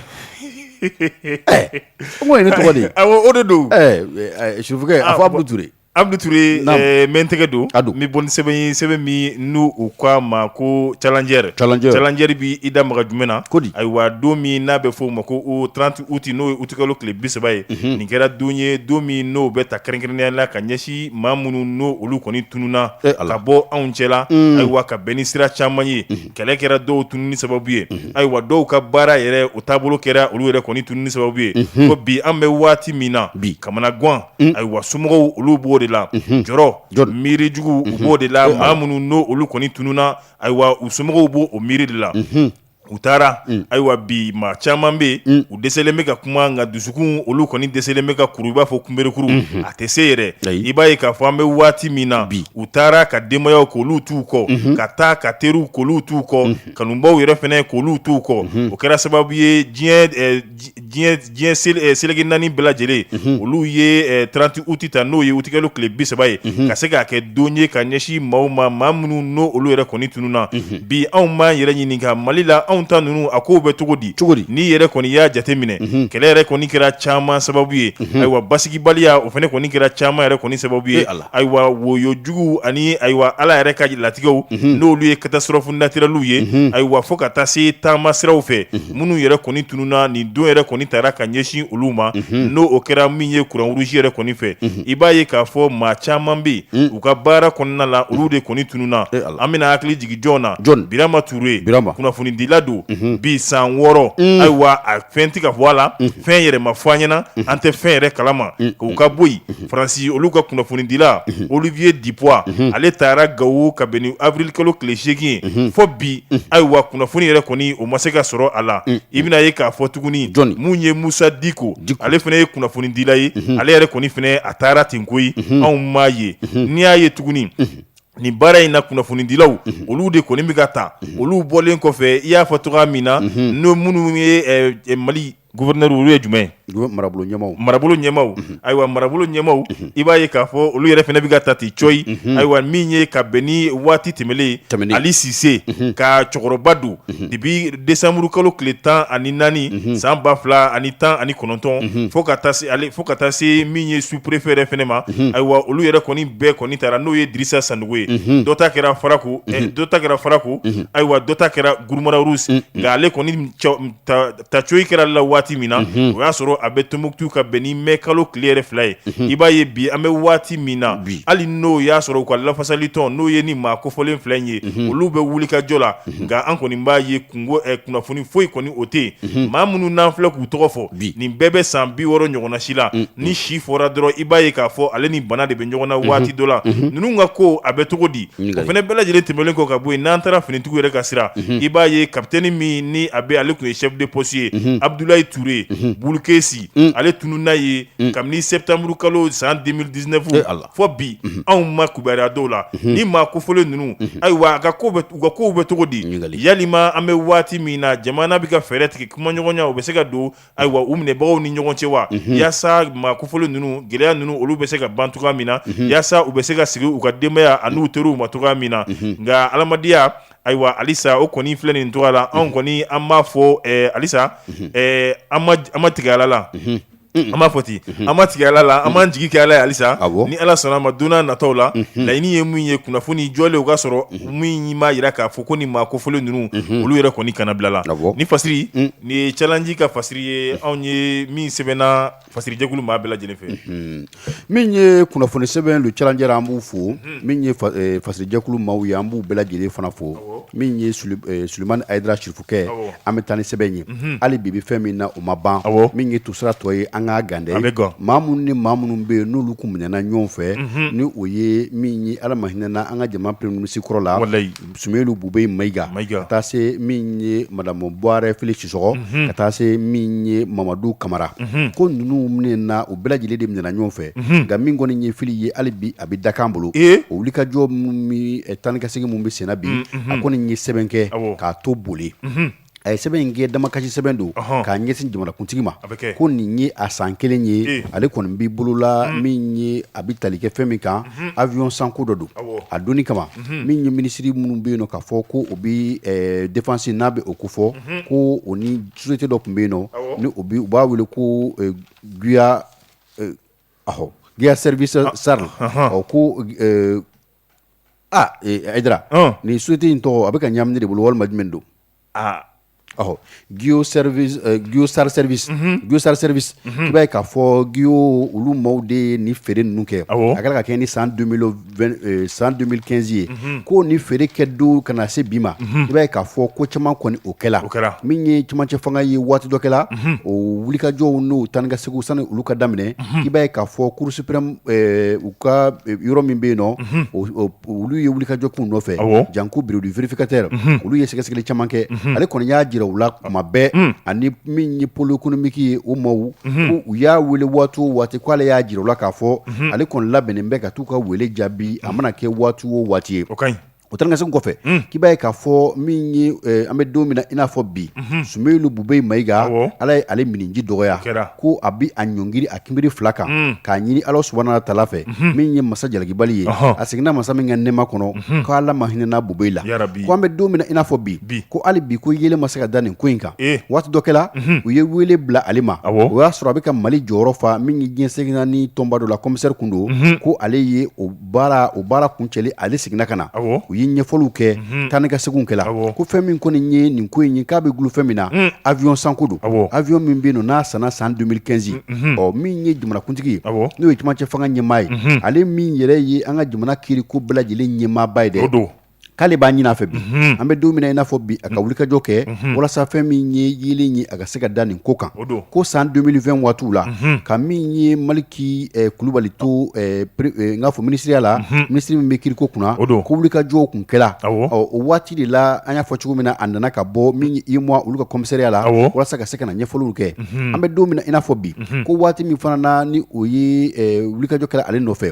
ɛɛ n ko nin ye ne tɔgɔ de ye awɔ o de don ɛɛ ɛ Sufukɛ a fɔ Abudu Ture Abudu Ture n bɛ n tɛgɛ don a don n bɛ bɔ ni sɛbɛn sɛbɛn min n' u ko a ma ko Challenger Challenger b' i da maga jumɛn na ko di ayiwa don min n'a bɛ f'o ma ko o tranti uti n'o ye utikalo tile bi saba ye nin kɛra don ye don min n'o bɛ ta kɛrɛnkɛrɛnya la ka ɲɛsin maa minnu n'o olu kɔni tununna ka bɔ anw cɛla ayiwa ka bɛn ni sira caman ye kɛlɛ kɛra dɔw tununni sababu ye ayiwa dɔw ka baara yɛrɛ u taabolo kɛra olu yɛrɛ kɔni tununni sababu ye ko bi an bɛ waati min na bi kamanagan ayiwa somɔgɔw olu b'o de la jɔrɔ miiri jugu u b'o de la maa minnu n'o olu kɔni tununna ayiwa u somɔgɔw b'o o miiri de la u taara ayiwa bi maa caman bɛ yen u dɛsɛlen bɛ ka kuma nka dusukun olu kɔni dɛsɛlen bɛ ka kuru i b'a fɔ kunberekuru a tɛ se yɛrɛ i b'a ye k'a fɔ an bɛ waati min na bi u taara ka denbayaw k'olu t'u kɔ ka taa ka teriw k'olu t'u kɔ kanubaw yɛrɛ fana k'olu t'u kɔ o kɛra sababu ye diɲɛ seleke naani bɛɛ lajɛlen olu ye tranti uti ta n'o ye utikalo tile bi saba ye ka se k'a kɛ don ye ka ɲɛsin maaw ma maa minnu n'o olu yɛrɛ kɔni tununna bi anw b'an yɛrɛ ɲininka Mali la anw ta ninnu a ko bɛ cogo di cogo n'i yɛrɛ kɔni i y'a jate minɛ mhm. kɛlɛ yɛrɛ kɔni kɛra caman sababu ye mhm. ayiwa basigibaliya o fana kɔni kɛra caman yɛrɛ kɔni sababu ye ayiwa woyo juguw ani ayiwa ala yɛrɛ ka latigɛw mhm. n'olu ye katasitɔrɔfu natirɛliw ye ayiwa fo ka taa se taama siraw fɛ minnu yɛrɛ kɔni tununna nin don yɛrɛ kɔni tara ka ɲɛsin olu ma n'o o kɛra min ye Croix-Rouge yɛrɛ kɔni fɛ i b'a ye k'a fɔ maa caman bɛ yen u ka baara kɔnɔna la olu de kɔni tununna an bɛna hakili jigin jɔn na birama tuure kunnafonidila don bi san wɔɔrɔ ayiwa a fɛn tɛ ka fɔ a la fɛn yɛrɛ ma fɔ an ɲɛna an tɛ fɛn yɛrɛ kalama o ka bɔ yen faransi olu ka kunnafonidila Olivier Dubois ale tara gawo ka bɛn ni awirili kalo tile seegin ye fɔ bi ayiwa kunnafoni yɛrɛ kɔni o ma se ka sɔrɔ a la i bɛna ye k'a fɔ tuguni jɔn minnu ye musa diko ale fana ye kunnafonidila ye ale yɛrɛ kɔni fana a tara ten koyi anw m'a ye n'i y'a ye tuguni Nin baara in na kunnafonidilaw olu de kɔni bɛ ka ta olu bɔlen kɔfɛ i y'a fɔ tɔgɔ min na n'o minnu ye mali gouverneur olu ye jumɛn marabolo ɲɛmaaw ayiwa marabolo ɲɛmaaw i b'a ye k'a fɔ olu yɛrɛ fana bɛ ka ta ten cɔyi ayiwa min ye ka bɛn ni waati tɛmɛnen ali sise ka cɛkɔrɔba don de bi décembre kalo tile tan ani naani san ba fila ani tan ani kɔnɔntɔn fo ka taa se ale fo ka taa se min ye sous préfet yɛrɛ fana ma ayiwa olu yɛrɛ kɔni bɛɛ kɔni tara n'o ye Dirisa Sanogo ye dɔ ta kɛra Farako dɔ ta kɛra Farako ayiwa dɔ ta kɛra Guruma Rarusi nka ale kɔni ta cogo kɛra ale la waati min na o y'a sɔrɔ a bɛ Tumutu ka bɛn ni mai kalo tile yɛrɛ fila ye i b'a ye bi an bɛ waati min na hali n'o y'a sɔrɔ u ka lafasalitɔn n'o ye nin maa kofɔlen fila in ye olu bɛ wulikajɔ la nka an kɔni b'a ye kunnafoni foyi kɔni o tɛ yen maa minnu n'an filɛ k'u tɔgɔ fɔ bi nin bɛɛ bɛ san bi wɔɔrɔ ɲɔgɔnna si la ni si fɔra dɔrɔn i b'a ye k'a fɔ ale ni bana de bɛ ɲɔgɔn na waati dɔ la ninnu ka ko a bɛ cogo di o fana bɛɛ lajɛlen tɛmɛnen kɔ ka bɔ yen n'an taara finitigiw yɛrɛ ka sira i b'a ye kapitɛni min ni a bɛ ale tun ye chef de poste ye abudulayi tuure bulikɛsi ale tununna yen kabini sɛtanburu kalo san deux mille dix-neuf a la fɔ bi anw ma kibaruya dɔn a la nin maa kofɔlen ninnu ayiwa u ka kow bɛ cogo di walima an bɛ waati min na jamana bɛ ka fɛɛrɛ tigɛ kumaɲɔgɔnya u bɛ se ka don ayiwa u minɛbagaw ni ɲɔgɔn cɛ wa walasa maa kofɔlen ninnu gɛlɛya ninnu olu bɛ se ka ban cogoya min na walasa u bɛ se ka segin u ka denbaya ani u teriw ma cogoya min na nka adamadenya ayiwa alisa o kɔni filɛ nin tɔgɔ la anw kɔni an b'a fɔ alisa an ma tigɛ ala la An b'a fɔ ten an ma tigɛ ala la an b'an jigi kɛ ala ye halisa ni ala sɔnna a ma don natɔw la laɲini ye min ye kunnafoni jɔlen o ka sɔrɔ min b'a jira k'a fɔ ko nin maa kofɔlen ninnu olu yɛrɛ kɔni kannabilala nin fasiri nin ye cɛji ka fasiri ye anw ye min sɛbɛnna fasiri jɛkulu maa bɛɛ lajɛlen fɛ min ye kunnafoni sɛbɛn Le Challenger an b'u fo min ye fasojɛkulu maaw ye an b'u bɛɛ lajɛlen fana fo min ye Sulemani Ayidara sirifukɛ an bɛ taa ni sɛbɛn ye hali bi bi fɛn min na o ma ban min ye tusira tɔ ye an ka gɛrɛ an bɛ ma minnu ni maa minnu bɛ yen n'olu tun minɛna ɲɔgɔn fɛ ni o ye ala ma hinɛna an ka jamana premier ministre kɔrɔ la Sumeyilu Bubɛyi Mayiga ka taa se min ye madamu Buware Fili Sisɔkɔ ka taa se min ye mamadu kamara ko ninnu minɛna u bɛɛ lajɛlen de minɛna ɲɔgɔn fɛ nka min kɔni nin ye Fili ye hali bi a bɛ dakan bolo o wulikajɔ taa ni ka segin minnu bɛ senna bi a kɔni ye sɛbɛn kɛ k'a to bolo a ye sɛbɛn in kɛ damakasi sɛbɛn don k'a ɲɛsin jamanakuntigi ma ko nin ye a san kelen ye ale kɔni bɛ bolo la min ye a bɛ tali kɛ fɛn min kan awiyɔn sanko dɔ don a don kama min ye minisiri minnu bɛ yen k'a fɔ ko u bɛ defansi na bɛ o ko fɔ ko o ni sosiyete dɔ tun bɛ yen nɔ ni u b'a wele ko gia service SARL ɔ ko Ayidara nin sosiyete in tɔgɔ a bɛ ka ɲagami ne de bolo walima jumɛn don aa ɔ gia service i b'a ye k'a fɔ gio olu maaw de ye ni feere ninnu kɛ a kɛra ka kɛ ni san deux mille quinze ye ko ni feere kɛ don ka na se bi ma i b'a ye k'a fɔ ko caman kɔni o kɛra o kɛra min ye cɛmancɛ fanga ye waati dɔ kɛla o wulikajɔw n'o taa ni ka segin sani olu ka daminɛ i b'a ye k'a fɔ kurusi ka yɔrɔ min bɛ yen olu ye wulikajɔ ko nɔfɛ janko bureau du vérificateur olu ye sɛgɛsɛgɛli caman kɛ ale kɔni y'a jira u la kuma bɛɛ ani min ye pôle économique ye o maaw u y'a wele waati o waati k' ale y'a jira u la k'a fɔ ale kɔni labɛnnen bɛ ka taa u ka wele jaabi a mana kɛ waati o waati ye O taa ni ka segin kɔfɛ k'i b'a ye k'a fɔ min ye an bɛ don min na i n'a fɔ bi Sumeyilu Bubɛyi Mayiga ala ye ale minji dɔgɔya ko a bɛ a ɲɔngiri a kunbere fila kan k'a ɲini ala subahana tala fɛ min ye masa jalakibali ye a seginna masa min ka nɛɛma kɔnɔ k' ala ma hinɛna Bubɛyi la ko an bɛ don min i n'a fɔ bi bi ko hali bi ko yeelen ma se ka da nin ko in kan waati dɔ kɛla u ye wele bila ale ma o y'a sɔrɔ a bɛ ka mali jɔyɔrɔ fa min ye diɲɛ seleke naani tɔnba dɔ la comisari tun don ko ale ye baara o baara kuncɛlen ale seginna ka na u ye ɲɛfɔliw kɛ taa ni ka segin kɛla ko fɛn min kɔni ye nin ko in ye k'a bɛ dulon fɛn min na awiyɔn sanko don awiyɔn min bɛ yen n'a sanna san deux mille quinze ɔ min ye jamanakuntigi ye n'o ye cɛmancɛ fanga ɲɛmaa ye ale min yɛrɛ ye an ka jamana kiiriko bɛɛ lajɛlen ɲɛmaaba ye de o don k'ale b'a ɲinin a fɛ bi mhm. an bɛ don min na i n'a fɔ bi a ka mhm. wulikajɔ kɛ mhm. walasa fɛn min ye yeelen ye a ka se ka da nin ko kan ko san 2020 waatiw la ka min ye maliki eh, kulubali to eh, eh, n k'a fɔ minisiriya la minisiri min bɛ kiriko kunna ko wulikajɔw kun kɛra o waati de la an y'a fɔ cogo min na a nana ka bɔ min ye imɔ olu ka kɔmisariya la walasa ka se ka na ɲɛfɔliw kɛ an bɛ don min na i n'a fɔ bi ko waati min fana na ni o ye wulikajɔ kɛra ale nɔfɛ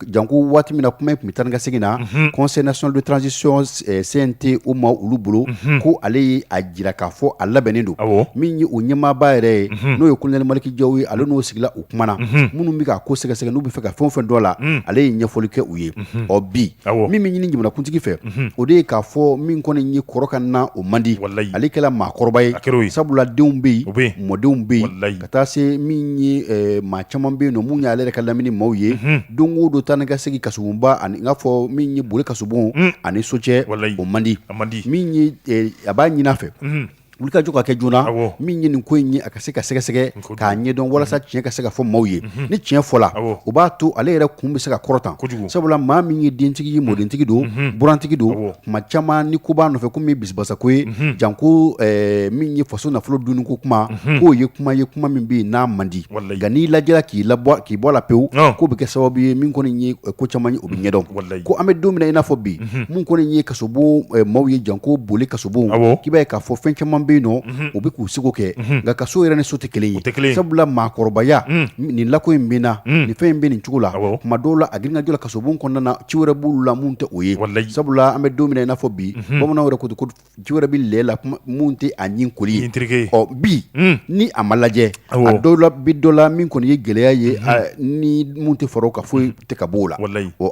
janko waati min na kuma tun bɛ taa ni ka segin na conseil national de transition cnt o maa olu bolo ko ale y'a jira k'a fɔ a labɛnnen don min ye u ɲɛmaaba yɛrɛ ye n'o ye kolonɛli maliki jawu ye ale n'o sigila u kumana minnu bɛ ka ko sɛgɛsɛgɛ n'u bɛ fɛ ka fɛn o fɛn dɔn a la ale ye ɲɛfɔli kɛ u ye ɔ bi min bɛ ɲini jamanakuntigi fɛ o de ye k'a fɔ min kɔni ye kɔrɔkan na o man di ale kɛla maakɔrɔba ye sabula denw bɛ yen mɔdenw bɛ yen ka taa se min ye maa caman bɛ yen min y'ale yɛrɛ ka lamini maaw ye don o don taa ni ka segin kasobonba ani n'a fɔ min ye bole kasobon ani so cɛ o man di a b'a ɲinin a fɛ wulikajɔ ka kɛ joona min ye nin ko in ye a ka se ka sɛgɛsɛgɛ k'a ɲɛdɔn walasa tiɲɛ ka se ka fɔ maaw ye ni tiɲɛ fɔla o b'a to ale yɛrɛ kun bɛ se ka kɔrɔta kojugu sabula maa min ye dentigi ye mɔdentigi don burantigi don tuma caman nin ko b'a nɔfɛ ko bisimilabasago ye janko min ye faso nafolo dun ko kuma k'o ye kuma ye kuma min bɛ yen a man di nka n'i lajɛla k'i bɔ a la pewu k'o bɛ kɛ sababu ye min kɔni ye ko caman ye o bɛ ɲɛdɔn ko an bɛ don min na i n'a fɔ bi min kɔni ye kasobon maaw ye janko bole kasobon k'i b'a ye k'a fɔ fɛn caman bɛ yen nɔ u bɛ k'u seko kɛ nka kaso yɛrɛ ni so tɛ kelen ye kelen sabula maakɔrɔbaya nin lako in min na nin fɛn in bɛ nin cogo la tuma dɔw la a grinkajɔ kasobon kɔnɔna na ci wɛrɛ b'u la min tɛ o ye sabula an bɛ don min i n'a fɔ bi bamananw yɛrɛ ko Ci wɛrɛ b'ale la min tɛ a ni ko ye terikɛke ɔ bi ni a ma lajɛ dɔw la bi dɔ la min kɔni ye gɛlɛya ye ni minnu tɛ fara a kan foyi tɛ ka bɔ a la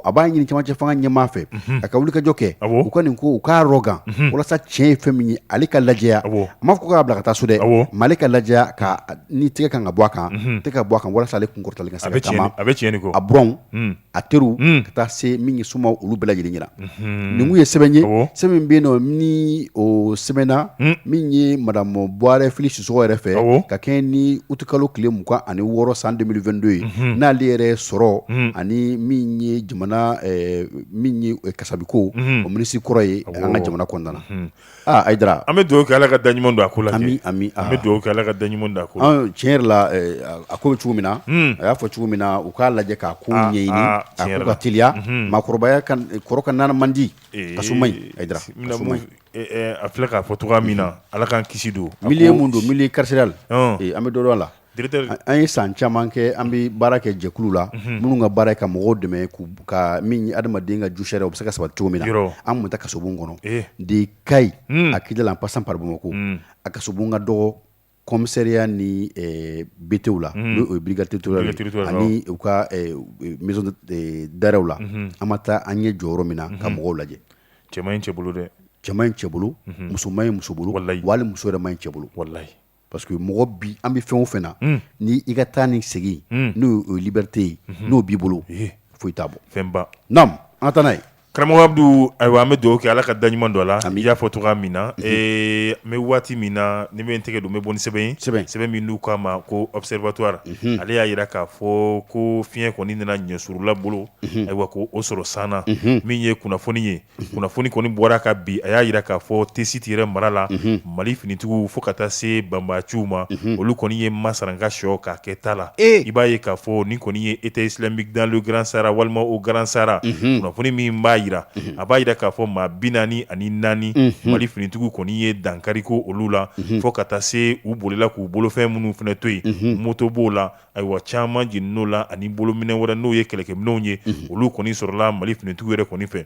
a b'a ɲini cɛmancɛ fanga ɲɛmaa fɛ a ka wulikajɔ kɛ u ka nin ko u k'a rɔ kan walasa tiɲɛ ye fɛn min ye ale ka lajɛya a ma ko k'a bila ka taa so dɛ mɛ ale ka lajɛya ka ni tɛgɛ ka kan ka bɔ a kan tɛ ka bɔ a kan walasa ale kunkɔrɔtali ka sa a bɛ cɛn a bɛ cɛn a b a teriw hmm. ka taa se min ye somaa olu bɛɛ lajɛlen ɲɛna hmm. ninnu ye sɛbɛn ye sɛbɛn min bɛ yen nɔ ni o sɛbɛnna hmm. min ye madamu buwarɛ fili sisoko yɛrɛ fɛ ka kɛɲɛ ni utikalo tile mugan ani wɔɔrɔ san 2022 ye n'ale yɛrɛ sɔrɔ ani min ye jamana eh, min ye eh, kasabiko o minisiri kɔrɔ ye an ka jamana kɔnɔna na Aa ayidara an bɛ dugawu kɛ ala ka da ɲuman don a ko la ami an bɛ dugawu kɛ ala ka da ɲuman da a ko tiɲɛ yɛrɛ la a ko bɛ cogo min na a y'a fɔ cogo min na u k'a lajɛ k'a ko ɲɛɲini a ka teliya maakɔrɔbaya kɔrɔk n man di kaso man ɲi a filɛ k'a fɔ cogoya min na ala k'an kisi don milieu mun don milieu carcéral la an bɛ don a la An ye san caman kɛ an bɛ baara kɛ jɛkulu la minnu ka baara ka mɔgɔw dɛmɛ ka min adamaden ka jɔyɔrɔ o bɛ se ka sabati cogo min na an tun taa kaso kɔnɔ de ka ɲi a kida la an pasan pa ko a ka ka dɔgɔ komisariya ni bitw la n' ye brigade to ani u ka daw la an ma taa an ye jɔyɔrɔ min na ka mɔgɔw lajɛ cɛ cɛ bolo dɛ cɛ in cɛ bolo musoman in muso bolo wali muso yɛrɛ in cɛ bolo wala parce que mɔgɔ bi an bɛ fɛn o fɛn na ni i ka taa ni segin n'o liberté ye n'o b'i bolo foyi t' bɔ fɛnba n' an taa ye karamɔgɔ Abdu ayiwa an bɛ duwa kɛ ala ka da ɲuman don a la an y'a fɔ cogo min na ee an bɛ waati min na ni bɛ tigɛ don bɛ bɔ sɛbɛn sɛbɛn sɛbɛn min n'u k'a ma ko observatoire ale y'a jira k'a fɔ ko fiɲɛyɛn kɔni nana ɲɛurula bolo ayiwa ko o sɔrɔ san min ye kunnafoni ye kunnafoni kɔni bɔra ka bi a y'a jira k'a fɔ tɛsiti yɛrɛ mara la mali finitigiw fo ka taa se banbaciw ma olu kɔni ye masaranka shɔ ka kɛta la i b'a ye k'a fɔ ni kɔni ye État islamique dans le Grand Sahara walima au Grand Sahara kunnafoni min b'a jira a b'a jira k'a fɔ maa bi naani ani naani mali finitigiw kɔni ye dankari kɛ olu la fo ka taa se u bolila k'u bolofɛn minnu fana to yen moto b'o la ayiwa caman jenin'o la ani bolominɛn wɛrɛ n'o ye kɛlɛkɛminɛnw ye olu kɔni sɔrɔla mali finitigiw yɛrɛ kɔni fɛ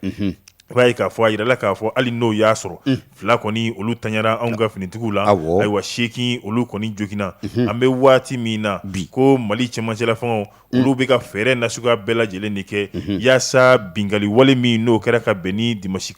i b'a ye k'a fɔ a jirala k'a fɔ hali n'o y'a sɔrɔ fila kɔni olu tanyara anw ka finitigiw la ayiwa seegin olu kɔni joginna an bɛ waati min na bi ko mali cɛmancɛ la fanga olu bɛ ka fɛɛrɛ na suguya bɛɛ lajɛlen de kɛ walasa binkanli wale min n'o kɛra ka bɛn ni dimasi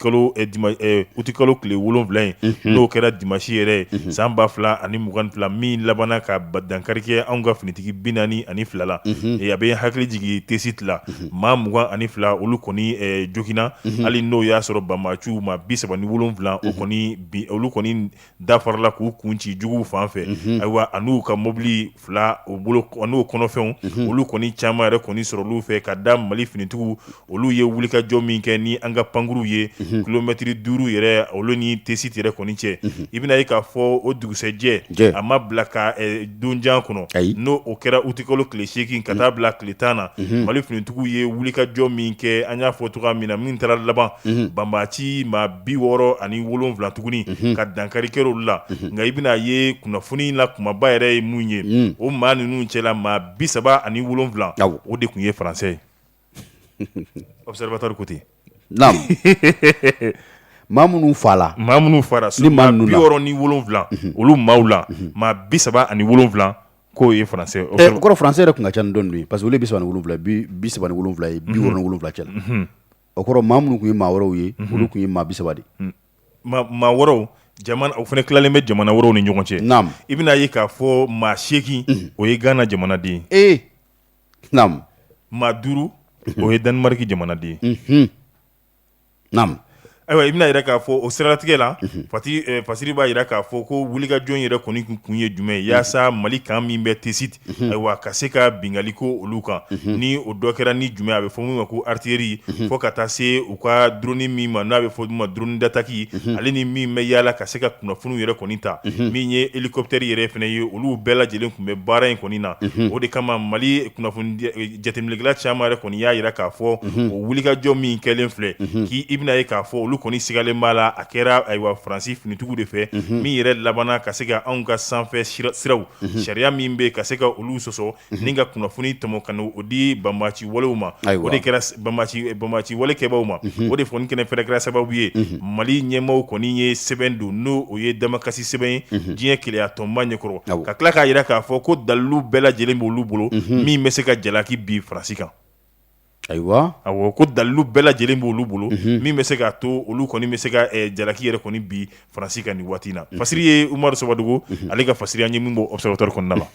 utikalo tile wolonwula in n'o kɛra dimasi yɛrɛ ye san ba fila ani mugan fila min labanna ka ba dankari kɛ anw ka finitigi bi naani ani fila la a bɛ hakili jigin tɛsiti la maa mugan ani fila olu kɔni joginna hali n'o y'a sɔrɔ banbaci maa bi saba ni wolonwula o kɔni olu kɔni dafarala k'u kun ci juguw fan fɛ ayiwa n'u ka mɔbili fila u bolo n'o kɔnɔfɛnw olu kɔni caman yɛrɛ kɔni sɔrɔ olu fɛ ka da mali finitigiw olu ye wulikajɔ min kɛ ni an ka pankurunw ye kilomɛtiri duuru yɛrɛ olu ni tɛsiti yɛrɛ kɔni cɛ i bɛna a ye k'a fɔ o dugusajɛ a ma bila ka donjan kɔnɔ ayiwa n'o kɛra utikalo tile seegin ka taa bila tile tan na mali finitigiw ye wulikajɔ min kɛ an y'a fɔ cogo min na min taara laban banbaci maa bi wɔɔrɔ ani wolowula tuguni ka dankari kɛ olu la nka i bɛna a ye kunnafoni la kumaba yɛrɛ ye mun ye o maa ninnu cɛla maa bi saba ani wolowula o de tun ye faransɛ ye observatoire ko ten maa minnu fala maa minnu fara ni maa bi wɔɔrɔ ni wolowula olu maaw la maa bi saba ani wolowula k'o ye faransɛ kɔrɔ faransɛ yɛrɛ tun ka ca dɔn ye pa parce que bi wolowula bi saba wolowula ye bi wolowula cɛ o kɔrɔ maa minnu tun ye maa wɔɔrɔw ye olu tun ye maa bisaba ni maa wɔɔrɔw o fana tilalen bɛ jamana wɔɔrɔw ni ɲɔgɔn cɛ n' i bɛna ye k'a fɔ maa seegin o ye gana jamanaden ee maa duuru o ye danmarki jamanaden naamu ayiwa i bɛna yɛrɛ k'a fɔ o siratigɛ la a fasiri b'a jira k'a fɔ ko wulikajɔ yɛrɛ kɔni tun ye jumɛn ye walasa mali kan min bɛ tɛsi ten ayiwa ka se ka binkanni kɛ olu kan ni o dɔ kɛra ni jumɛn a bɛ fɔ min ma ko artillerie fo ka taa se u ka drone min ma n'a bɛ fɔ ma drone d'attaque ale ni min bɛ yaala ka se ka kunnafoniw yɛrɛ kɔni ta min ye elikɔptɛri yɛrɛ fana ye olu bɛɛ lajɛlen tun bɛ baara in kɔni na o de kama mali jateminɛla caman yɛrɛ kɔni y'a jira k'a fɔ o wulikajɔ min kɛlen filɛ k' i bɛna ye k'a fɔ olu kɔni sigalen b'a la a kɛra ayiwa faransi finitigiw de fɛ min yɛrɛ labanna ka se ka anw ka sanfɛ siraw sariya min bɛ ka se ka olu sɔsɔ ni ka kunnafoni tɔmɔ ka o di banbaci walew ma o de kɛra banbaci walekɛbaw ma o de fɔ kɛnɛ fɛrɛ kɛra sababu ye mali ɲɛmaaw kɔni ye sɛbɛn don n'o ye damakasi sɛbɛn ye diɲɛ kelenya tɔnba ɲɛkɔrɔ ka tila k'a jira k'a fɔ ko dalilu bɛɛ lajɛlen b' olu bolo min bɛ se ka jalaki bin faransi kan Ayiwa awɔ ko dalilu bɛɛ lajɛlen b' olu bolo min bɛ se k'a to olu kɔni bɛ se ka jalaki yɛrɛ kɔni bin faransi kan nin waati na fasiri ye Umaru Sawadogo ale ka fasiri ye min bɔra Observateur kɔnɔna na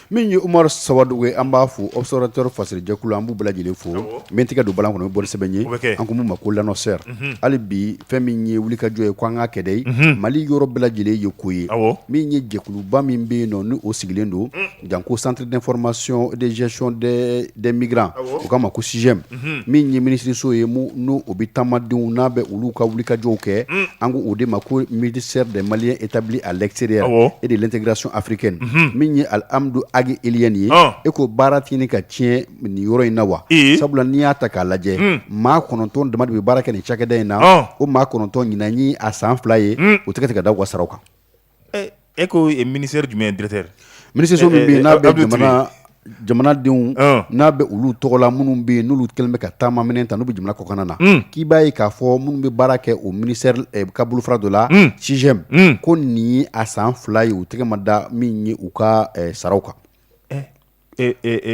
min ye Umaru Sawadogo ye an b'a fo Observateur fasiri jɛkulu an b'u bɛɛ lajɛlen fo min tigɛ don bala kɔnɔ min bɔli sɛbɛn ye an ko min ma ko L'Annonceur hali bi fɛn min ye wuli kajɔ ye ko an ka kɛlɛ mali yɔrɔ bɛɛ lajɛlen ye ko ye min ye jɛkuluba min bɛ yen nɔn n' o sigilen don Jan ko centre d'information et de gestion des migrants u ko a ma ko CIGEM min ye minisiririso ye n'o bɛ taamadenw n'a bɛ olu ka wuli kajɔw kɛ an ko o de ma ko ministère des Maliens établis à l'extérieur et de l'intégration africaine min ye Alhamdou Ag Ilyene ye e ko baara tɛ ka tiɲɛ nin yɔrɔ in na wa sabula n'i y'a ta k'a lajɛ maa kɔnɔntɔn dama bɛ baara kɛ nin cakɛda in na o maa kɔnɔntɔn nin ye a san fila ye u tɛgɛ tɛ ka da u ka saraw kan E ko ministère des Maliens de l'extérieur minisiriso min bɛ n'a bɛ jamana jamanadenw n'a bɛ olu tɔgɔ la minnu bɛ yen n'olu kɛlen bɛ ka taama minɛn ta n'u bɛ jamana kɔkan na k'i b'a ye k'a fɔ minnu bɛ baara kɛ o ministère ka bolofara dɔ la CIGEM ko nin ye a san fila ye u tɛgɛ ma da min ye u ka saraw kan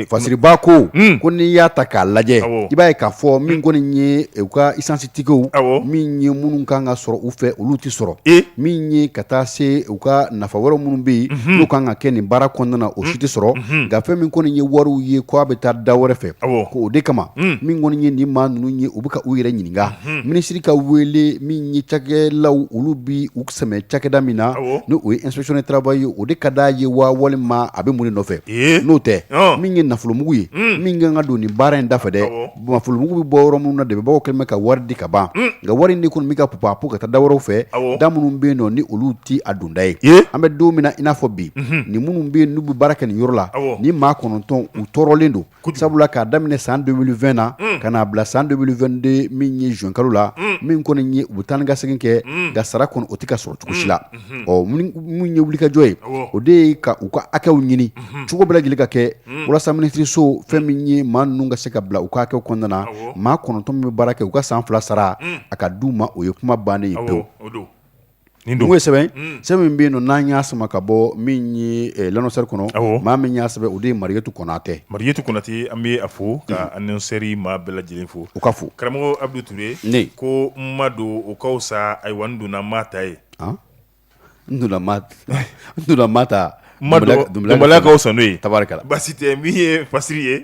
Fasiriba ko ko n'i y'a ta k'a lajɛ i b'a ye k'a fɔ min kɔni ye u ka esansi tikɛw min ye minnu kan ka sɔrɔ u fɛ olu tɛ sɔrɔ e min ye ka taa se u ka nafa wɛrɛw minnu bɛ yen n'u kan ka kɛ nin baara kɔnɔna na o si tɛ sɔrɔ nka fɛn min kɔni ye wariw ye k' a bɛ taa da wɛrɛ fɛ ko o de kama min kɔni ye nin maa ninnu ye u bɛ ka u yɛrɛ ɲininka minisiri ka wele min ye cakɛlaw olu bɛ sɛmɛ cakɛda min na awɔ ni o ye inspection du travail ye o de ka d'a ye waa walima a bɛ mun de nɔfɛ ee n'o tɛ ɔn min ye nafolomugu ye un min ka kan ka don nin baara in da fɛ dɛ awɔ nafolomugu bɛ bɔ yɔrɔ minnu na dɛmɛbagaw kɛlen bɛ ka wari di ka ban un nka wari in de kɔni bɛ ka pupapu ka taa da wɛrɛw fɛ awɔ da minnu bɛ yen nɔ ni olu tɛ a donda ye ee an bɛ don min na i n'a fɔ bi unhun nin minnu bɛ yen n'u bɛ baara kɛ nin yɔrɔ la awɔ ni maa kɔnɔntɔn u tɔɔrɔlen don sabula k'a daminɛ san deux mille vingt na ka n'a bila san deux mille vingt-deux min ye zuwɛn kalo la min kɔni ye u bɛ taa ni ka segin kɛ nka sara kɔnɔ o tɛ ka sɔrɔ cogosi la ɔ min ye wulikajɔ ye o de ye ka u ka hakɛw ɲini cogo bɛ lajɛlen ka kɛ walasa minisiriso fɛn min ye maa ninnu ka se ka bila u ka hakɛw kɔnɔna na maa kɔnɔntɔn min bɛ baara kɛ u ka san fila sara a ka di u ma o ye kuma bannen ye Nin don. N'o ye sɛbɛn ye, un, sɛbɛn min bɛ yen nɔ n'an y'a sama ka bɔ min ye ɛ l'annonceur kɔnɔ, awɔ, maa min y'a sɛbɛn o de ye Mariyatu Konatɛ, Mariyatu Konatɛ an bɛ a fo ka annonceur maa bɛɛ lajɛlen fo, u ka fo, karamɔgɔ Abudu Ture, n ko n ma don o ka fisa ayiwa n donna n m'a ta ye, an, n donna n m'a ta Dubalakaw san n'o ye tari basi tɛ min ye fasiri ye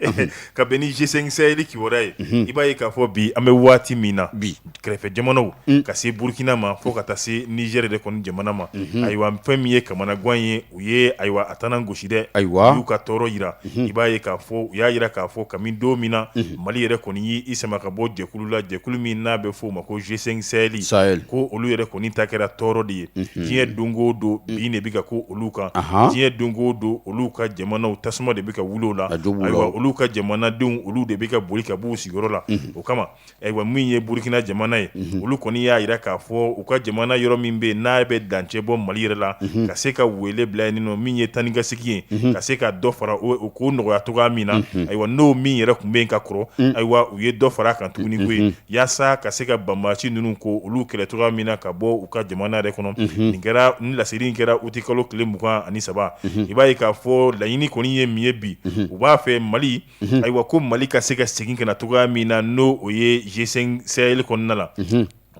ka bɛn ni G5 Sahel kibaru ye i b'a ye k'a fɔ bi an bɛ waati min na bi kɛrɛfɛ jamanaw ka se burukina ma fo ka taa se nizɛri de kɔni jamana ma ayiwa fɛn min ye kamanagan ye u ye ayiwa a taa gosi dɛ ayiwa u y'u ka tɔɔrɔ jira i b'a ye k'a fɔ u y'a jira k'a fɔ kabini don min na Mali yɛrɛ kɔni y'i sama ka bɔ jɛkulu la jɛkulu min n'a bɛ f'o ma ko G5 Sahel sa ko olu yɛrɛ kɔni ta kɛra tɔɔrɔ de ye diɲɛ don o don bin de bɛ ka ko olu kan diɲɛ don o don olu ka jamanaw tasuma de bɛ ka wuli a don olu ka jamanadenw olu de bɛ ka boli ka bɔ u sigiyɔrɔ la o kama ayiwa min ye burukina jamana ye olu kɔni y'a jira k'a fɔ u ka jamana yɔrɔ min bɛ n'a bɛ dancɛ bɔ mali yɛrɛ la ka se ka wele bila nin min ye taa ni ka segin ye ka se ka dɔ fara u ko nɔgɔya cogoya min na ayiwa n'o min yɛrɛ tun bɛ yen ka kɔrɔ ayiwa u ye dɔ fara kan tuguni ko yen walasa ka se ka banbaci ninnu ko olu kɛlɛ cogoya min na ka bɔ u ka jamana yɛrɛ kɔnɔ nin kɛra ni laseli kɛra uti kalo tile mugan ani saba i b'a ye k'a fɔ laɲini kɔni ye min ye bi u b'a fɛ mali ayiwa ko mali ka se ka segin ka na cogoya min na n'o ye G5 Sahel kɔnɔna la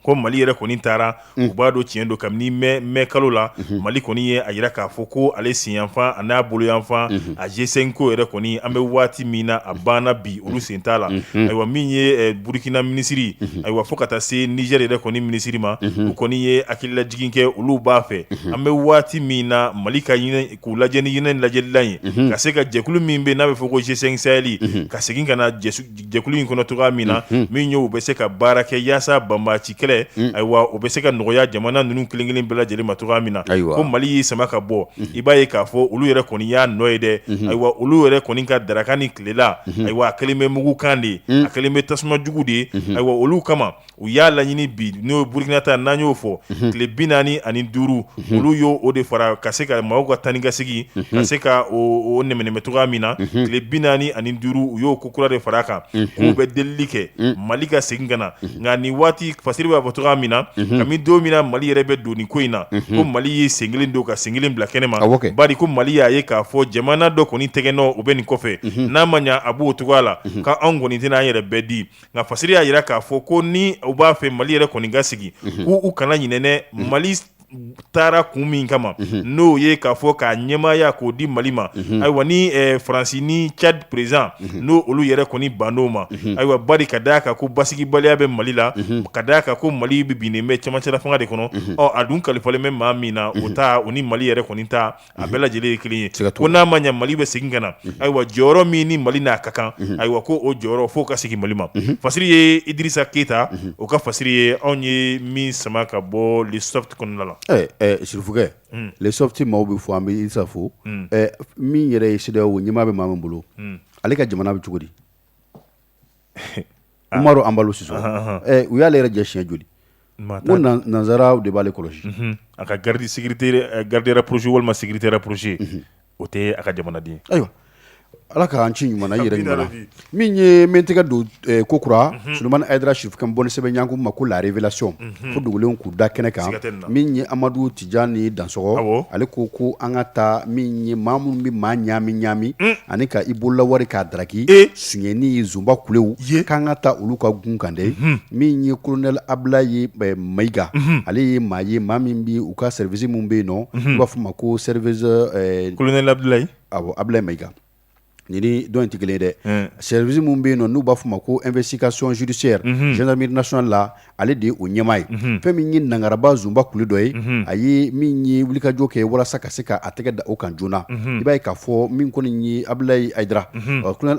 ko mali yɛrɛ kɔni taara u b'a don tiɲɛ don kabini mɛ kalo la mali kɔni ye a jira k'a fɔ ko ale senfan ani n'a bolo yanfan a G5 ko yɛrɛ kɔni an bɛ waati min na a banna bi olu sen t'a la ayiwa min ye burukina minisiri ayiwa fo ka taa se nizɛri yɛrɛ kɔni minisiri ma u kɔni ye hakililajigin kɛ olu b'a fɛ an bɛ waati min na mali ka k'u lajɛ ni ɲɛ lajɛlila ye ka se ka jɛkulu min bɛ n'a bɛ fɔ ko G5 Sahel ka segin ka na jɛkulu in kɔnɔ cogoya min na min ye u bɛ se ka baara kɛ yaasa banbaci kɛlɛ ayiwa o bɛ se ka nɔgɔya jamana ninnu kelenkelen bɛɛ lajɛlen ma cogoya min na ayiwa ko mali y'i sama ka bɔ i b'a ye k'a fɔ olu yɛrɛ kɔni y'a nɔ ye dɛ ayiwa olu yɛrɛ kɔni ka daraka ni tilela ayiwa a kɛlen bɛ mugukan de ye a kɛlen bɛ tasuma jugu de ye ayiwa olu kama U y'a laɲini bi n'o ye burukina ta n' y'o fɔ tile bi naani ani duuru olu y'o o de fara ka se ka maaw ka tankasigi ka se ka mɛɛn cogoya min na tile bi naani ani duuru u y'o ko kura de fara kan k'u bɛ deli kɛ mali ka segin ka na nka nin waati fasiri b'a fɔ cogoya min na ka don min na mali yɛrɛ bɛ don ni ko in na ko mali y'i sen kelen don ka sen kelen bila kɛnɛ ma ba ko mali y'a ye k'a fɔ jamana dɔ kɔni tɛgɛnɔ bɛ nin kɔfɛ n'a ma ɲɛ a b'o cogoya la k'an kɔni tɛna n'an yɛrɛ bɛɛ di nka fasiri y'a jira k'a fɔ ko ni u b'a fɛ mali yɛrɛ kɔni ka segin mhm. k'u u kana ɲinɛnɛ mhm. mali taara kun min kama mhm. n'o ye k'a fɔ k'a ɲɛmaaya k'o di mali ma ayiwa ni eh, faransi ni chad perezidan ni olu yɛrɛ kɔni banna o ma ayiwa bari ka da a kan ko basigibaliya bɛ mali la ka da a kan ko mali binnen bɛ camancɛlafanga de kɔnɔ ɔ a dun kalifalen bɛ maa min na o ta o ni mali yɛrɛ kɔni ta a bɛɛ lajɛlen ye kelen ye ko n'a ma ɲɛ mali bɛ segin ka na ayiwa jɔyɔrɔ min ni mali n'a ka kan ayiwa ko o jɔyɔrɔ fo o ka segin mali ma fasiri ye idrisa keyita o ka fasiri ye anw ye min sama ka bɔ le soft kɔnɔna la e sirifikɛ le soft maaw b'i fo an bɛ isa fo min yɛrɛ ye sedeyawo ɲɛmaa bɛ maa min bolo ale ka jamana bɛ cogo di umaru ambalo sisoko u y'ale yɛrɛ jɛ siɲɛ joli ko nansaraw de b'ale kɔlɔsi a ka garde garde rapprochée walima sécurité rapprochée o tɛ a ka jamanaden ayiwa ala k'an ci ɲuman yɛrɛ ɲɔgɔn min ye mɛ tɛgɛ don ko kura solomani dra sirifikɛ bɔn sɛbɛn ɲkun ma ko la révélation ko dogolen k'u da kɛnɛ kan min ye amadu ti jani dansɔkɔ ale ko ko an ka taa min ye maa minnu bɛ maa ɲami ɲami ani ka i bolola wari k'a daraki sonyɛni ye zonba kulew ye k'an ka taa olu ka gun kan dɛ min ye kolonɛli abudulayi mayiga ale ye maa ye maa min bɛ u ka sɛriwisi minnu bɛ yen nɔn u b'a fɔ a ma ko sɛriwisi kolonɛli abudulayi a abudulayi mayiga Ni nin dɔ in tɛ kelen dɛ sɛriwisi minnu bɛ yen nɔn n'u b'a fɔ ma ko investigation judiciaire gendarmerie nationale la ale de ye o ɲɛmaa ye fɛn min ye nangaraba zonba kule dɔ ye a ye min ye wulikajɔ kɛ walasa ka se k'a tɛgɛ da o kan joona i b'a ye k'a fɔ min kɔni ye abulayi dra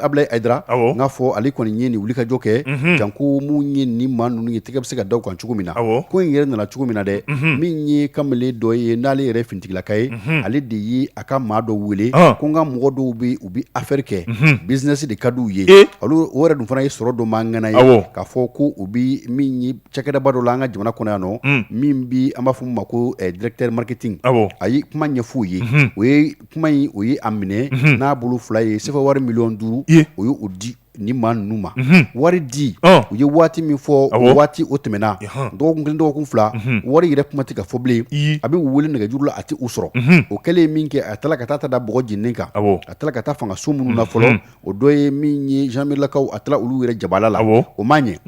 abulayi dra n'a fɔ ale kɔni ye nin wulikajɔ kɛ janko min ye ni maa ninnu ye tɛgɛ bɛ se ka da kan cogo min na ko in yɛrɛ nana cogo min na dɛ min ye kamalen dɔ ye n'ale yɛrɛ ftigilaka ye ale de ye a ka maa dɔ wele ko n ka mɔgɔ dɔw bɛ u bɛ aferi kɛ bizinɛsi de ka di u ye olu o yɛrɛ dun fana ye sɔrɔ dɔ man ŋana ye k'a fɔ ko o bɛ min ye cakɛdaba dɔ la an ka jamana kɔnɔ yan nɔ min bɛ an b'a fɔ min ma ko directeur marketing a ye kuma ɲɛfɔ o ye o ye kuma in o ye a minɛ n'a bolo fila ye sefa wari miliyɔn duuru o ye o di ni maa ninnu ma wari di u ye waati min fɔ waati o tɛmɛna dɔgɔkun kelen dɔgɔkun fila wari yɛrɛ kuma tɛ ka fɔ bilen a bɛ u wele nɛgɛjuru la a tɛ u sɔrɔ o kɛlen ye min kɛ a tila ka taa t'a da bɔgɔ jeni kan a tila ka taa fanga so minnu na fɔlɔ o dɔ ye min ye zandaramerilakaw a taala olu yɛrɛ jabala la o ma ɲɛ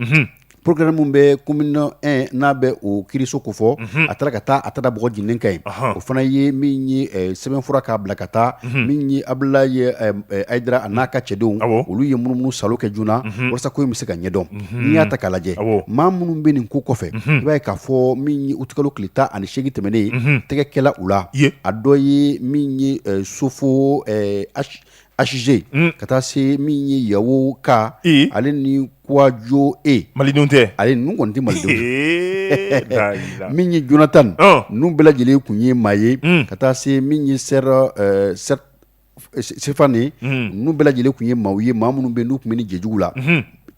Procureur min bɛ commune 1 n bɛ o kiiriso kofɔ a taara ka taa a taara b di ka ye o fana ye min ye sɛbɛnfura k'a bila ka taa min ye abulaye jara a n'a ka cɛdenw olu ye munumunu saalo kɛ joona walasa ko in bɛ se ka ɲɛdɔn n'i y'a ta k'a lajɛ maa minnu bɛ nin ko kɔfɛ i b'a ye k'a fɔ min ye utikalo kile tan ani segin tɛmɛnen tɛgɛ kɛla u la a dɔ ye min ye sofo Aze ka taa se min ye yawo ka ale ni kojɔ e mali tɛ a ye kɔni tɛ mali min ye jonatan ninnu bɛɛ lajɛlen tun ye maa ye ka taa se min ye sera sefan de ninnu bɛɛ lajɛlen tun ye maaw ye maa minnu bɛ n'u tun bɛ nin jɛjugu la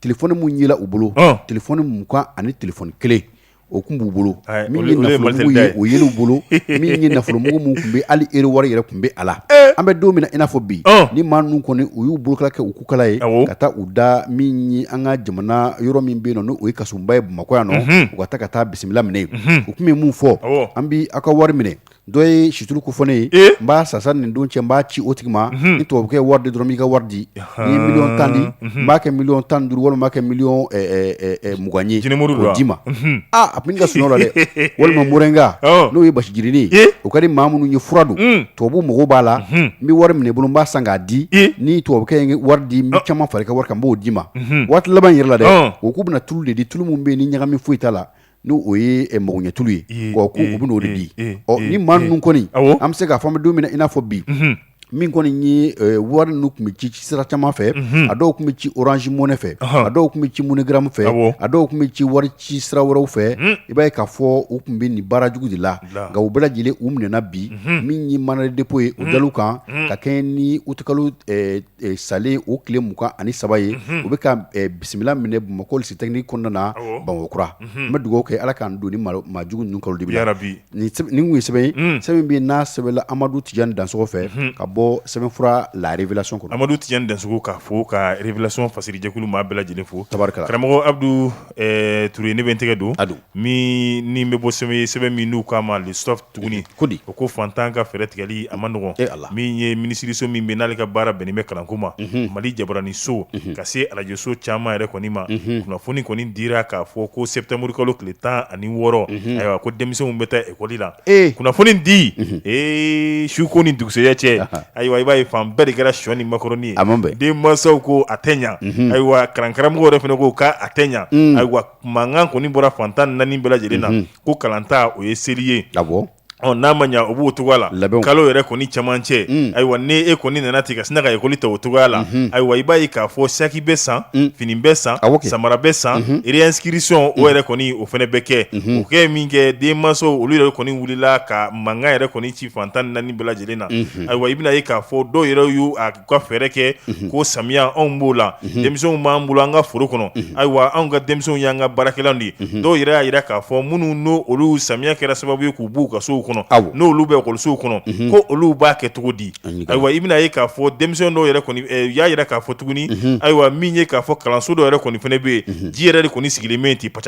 telefɔni min yela u bolo telefɔni mugan ani telefɔni kelen o tun b'u bolo min ye nafolomugu ye o yela u bolo min ye nafolomugu minnu tun bɛ hali ero wari yɛrɛ tun bɛ a la an bɛ don min i n'a fɔ bi ni maa ninnu kɔni u y'u bolokala kɛ u kukala ye ka taa u da min ye an ka jamana yɔrɔ min bɛ yen n'o ye kasobonba ye bamakɔ yan nɔ u ka taa ka taa bisimila minɛ yen u tun bɛ min fɔ an bɛ aw ka wari minɛ Dɔ ye situlu ko fɔ ne ye n b'a sa sa nin don cɛ n b'a ci o tigi ma ni tubabukɛ ye wari di dɔrɔn n b'i ka wari di. N'i ye miliyɔn tan di n b'a kɛ miliyɔn tan ni duuru walima n b'a kɛ miliyɔn mugan ye k'o d'i ma. Aa a tun bi ne ka sunɔgɔ la dɛ walima morɛnga n'o ye basi jirinin ye o ka di maa minnu ye fura don tubabuw mago b'a la n bɛ wari minɛ i bolo n b'a san k'a di ni tubabukɛ ye wari di n bɛ caman fara i ka wari kan n b'o d'i ma waati laban in yɛrɛ la dɛ u kun bɛ na tulu de di tulu min bɛ yen ni ɲagami foyi t'a la. N'o ye magoɲɛ tulu ye u bɛ n'o de di ni maa ninnu kɔni an bɛ se k'a fɔ an bɛ don min i n'a fɔ bi min kɔni ye wari ninnu tun bɛ ci cisira caman fɛ a dɔw tun bɛ ci Orange Money fɛ a dɔw tun bɛ ci MoneyGram fɛ a dɔw tun bɛ ci waricisira wɛrɛw fɛ i b'a ye k'a fɔ u tun bɛ nin baara jugu de la nka u bɛɛ lajɛlen u minɛna bi min ye mandat de dépôt ye o dala u kan ka kɛɲɛ ni utikalo Salen o tile mugan ani saba ye u bɛ ka bisimila minɛ bamakɔ lycée technique kɔnɔna na bamakɔkura n bɛ dugawu kɛ ala k'an don nin maa jugu ninnu kalo dibi nin tun ye sɛbɛn ye sɛbɛn min bɛ n'a sɛbɛnna amadu tijani dansogo fɛ ka bɔ sɛbɛnfura La Révélation kɔnɔ amadu tijani dansogo k'a fo ka Révélation fasiri jɛkulu maa bɛɛ lajɛlen fo terikɛ karamɔgɔ abudu ture ne bɛ tɛgɛ don a don min ni bɛ bɔ sɛbɛn sɛbɛn min n'u k'a ma L'Essor tuguni ko di o ko fantan ka fɛɛrɛtigɛli a man nɔgɔn e a la min ye minisiririso min bɛ n'ale ka baara bɛnnen bɛ kalanko ma mali jabaranin so ka se arajoso caman yɛrɛ kɔni ma kunnafoni kɔni dira k'a fɔ ko sɛtanburukalo tile tan ani wɔɔrɔ ayiwa ko denmisɛnw bɛ taa ekɔli la ee kunnafoni di ee suko ni dugusɛya cɛ ayiwa i b'a ye fan bɛɛ de kɛra shɔni makɔrɔnin a denmansaw ko a tɛ ɲɛ ayiwa kalankaramɔgɔ yɛrɛ fana ko k'a tɛ ɲɛ ayiwa mankan kɔni bɔra fan tan ni naani bɛɛ lajɛlen na ko kalanta o ye seli ye n'a ma ɲɛ o b'o cogoya la labɛn kalo yɛrɛ kɔni camancɛ ayiwa n' e kɔni nana ten ka sina ka ekɔli ta o cogoya la ayiwa i b'a ye k'a fɔ saki bɛ san fini bɛ san samara bɛ san réinscription o yɛrɛ kɔni o fana bɛ kɛ o kɛ minkɛ denmansaw olu yɛrɛ kɔni wulila ka mankan yɛrɛ kɔni ci fan tan naani bɛɛ lajɛlen na ayiwa i bɛna ye k'a fɔ dɔw yɛrɛ y' u ka fɛɛrɛ kɛ ko samiya anw b'o la denmisɛnw b'an bolo an ka foro kɔnɔ ayiwa anw ka denmisɛnw y'an ka baarakɛlaw ye dɔw yɛrɛ y'a jira k'a fɔ minnu n'o olu samiya kɛra sababu ye k'u b'u ka sow kɔnɔ n'olu bɛ ekɔlisow kɔnɔ ko olu b'a kɛ cogo di ayiwa i bɛna ye k'a fɔ denmisɛn dɔw yɛrɛ y'a jira k'a fɔ tuguni ayiwa min ye k'a fɔ kalanso dɔw yɛrɛ kɔni fana bɛ yen ji yɛrɛ de kɔni sigilen min tɛ pa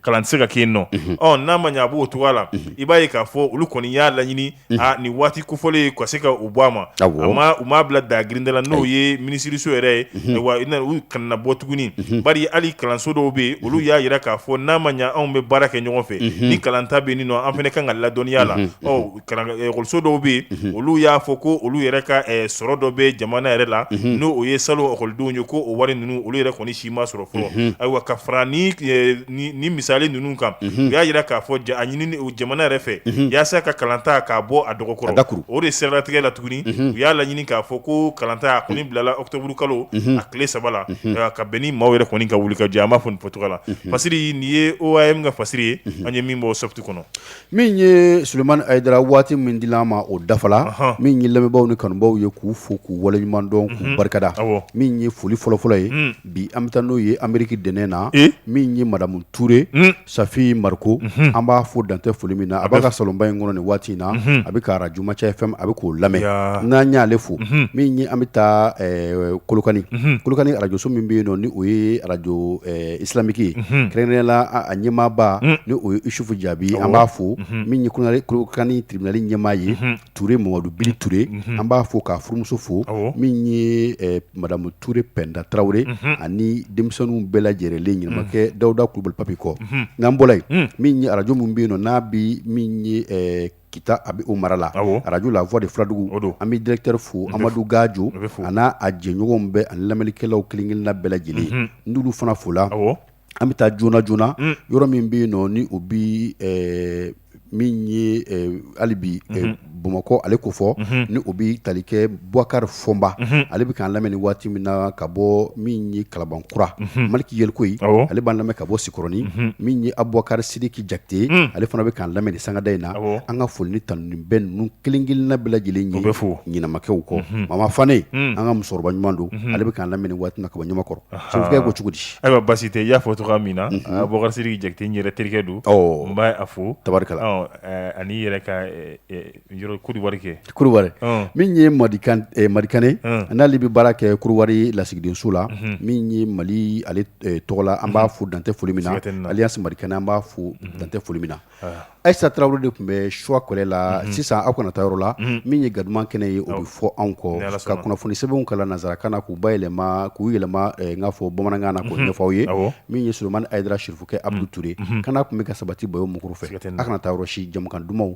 kalan tɛ se ka kɛ yen nɔ ɔ n'a ma ɲɛ a b'o cogoya la i b'a ye k'a fɔ olu kɔni y'a laɲini aa nin waati kofɔlen ka se ka u bɔ a ma u m'a bila da girin da la n'o ye minisiriso yɛrɛ ye ayiwa u kana bɔ tuguni bari hali kalanso dɔw bɛ yen olu y'a jira k'a fɔ n'a ma ɲɛ anw bɛ baara kɛ ɲɔgɔn fɛ ni kalanta bɛ nin an fana ka kan ka ladɔnniya la ekɔliso dɔw bɛ yen olu y'a fɔ ko olu yɛrɛ ka sɔrɔ dɔ bɛ jamana yɛrɛ la n'o ye salon ekɔlidenw ye ko o wari ninnu olu yɛrɛ kɔni si ma sɔrɔ fɔlɔ ayiwa ka fara ni ni misali ninnu kan u y'a jira k'a fɔ y'a ɲini jamana yɛrɛ fɛ walasa ka kalanta k'a bɔ a dɔgɔkɔrɔ o de sɛrɛ latigɛla tuguni u y'a laɲini k'a fɔ ko kalanta a kɔni bilala ɔkutɔburu kalo a tile saba la ka bɛn ni maaw yɛrɛ kɔni ka wuli ka jɛ an b'a fɔ nin fɔcogo la fasiri nin ye o ye min ka fasiri ye an ye min bɔ Soft kɔnɔ Min ye Sulemani Ayidara waati min di l'an ma o dafa la, ɔnhɔn, min ye lamɛnbaaw ni kanubaaw ye k'u fo k'u waleɲuman dɔn k'u barikada, awɔ, min ye foli fɔlɔfɔlɔ ye, un, bi an bɛ taa n'o ye Ameriki dɛnɛn na, ee, min ye madamu Ture, un, Safi Mariko, unhun, an b'a fo dan tɛ foli min na, a b'a ka salonba in kɔnɔ nin waati in na, unhun, a bɛ ka arajo Manca FM a bɛ k'o lamɛn, yaa, n'an y'ale fo, unhun, min ye an bɛ taa ɛɛ Kolokani, unhun, Kolokani arajoso min bɛ yen nɔ ni o ye arajo ɛɛ isilamiki kɛrɛnkɛrɛnnenya la a ɲɛmaaba ni o ye isufu jaabi an b'a fo min ye kolokani tiribinali ɲɛmaa ye tuure mamadu bili tuure an b'a fo k'a furumuso fo min ye madamu tuure pɛnda tarawele ani denmisɛnninw bɛɛ lajɛlen ɲumankɛ dawuda kulubali papi kɔ n'an bɔra yen min ye arajo min bɛ yen n'a bɛ Kita bɛ o mara la arajo la voix de fuladugu an bɛ dirɛkitɛri fo amadu gajo a n'a a jɛɲɔgɔn bɛɛ ani lamɛnnikɛlaw kelenkelenna bɛɛ lajɛlen an b'olu fana fo la an bɛ taa joona joonana yɔrɔ min bɛ yen nɔ ni o bi min ye hali bi bamakɔ ale kofɔ ni o bɛ talikɛ bukari fɔ fɔnba ale bɛ k'an lamɛn waati min na ka bɔ min ye kalabankura maliki yelikoyi ale b'an lamɛn ka bɔ sikɔrɔni min ye abubakari sidiki jakite ale fana bɛ k'an lamɛn sangada in na an ka foli ni tanuni bɛ ninnu kelen-kelen bɛɛ lajɛlen ye bɛ fɔ ɲɛnamakɛw ko mama fane an ka musokɔrɔba ɲuman don ale bɛ k'an lamɛn waati min na ka bɔ ɲamakɔrɔ sokɛ ko cogo di ayiwa basi tɛ y'a fɔ tɔgɔ min na abubakari sidiki jakite yɛrɛ terikɛ don n b'a fo tari ani yɛrɛ ka min ye marikɛ n'ale bɛ baara kɛ kulubali lasigidenso la min ye mali tɔgɔ la an b'a fo dan tɛ foli min na ale marikɛnɛ an b'a fo dan tɛ foli min na ayisa tarawele de tun bɛ suwa kɔlɛ la sisan aw kana taa yɔrɔ la min ye ga kɛnɛ ye o bɛ fɔ anw kɔ ka kunnafoni sɛbɛnw kalan nansa ka na k'u ba yɛlɛma k'u yɛlɛma n'a fɔ bamanankan na ko ɲɛfɔw ye min ye somani a ye sufɛ a toraur kana tun bɛ ka sabati bɔ muru fɛ a kana taa yɔrɔ si jamana dumanw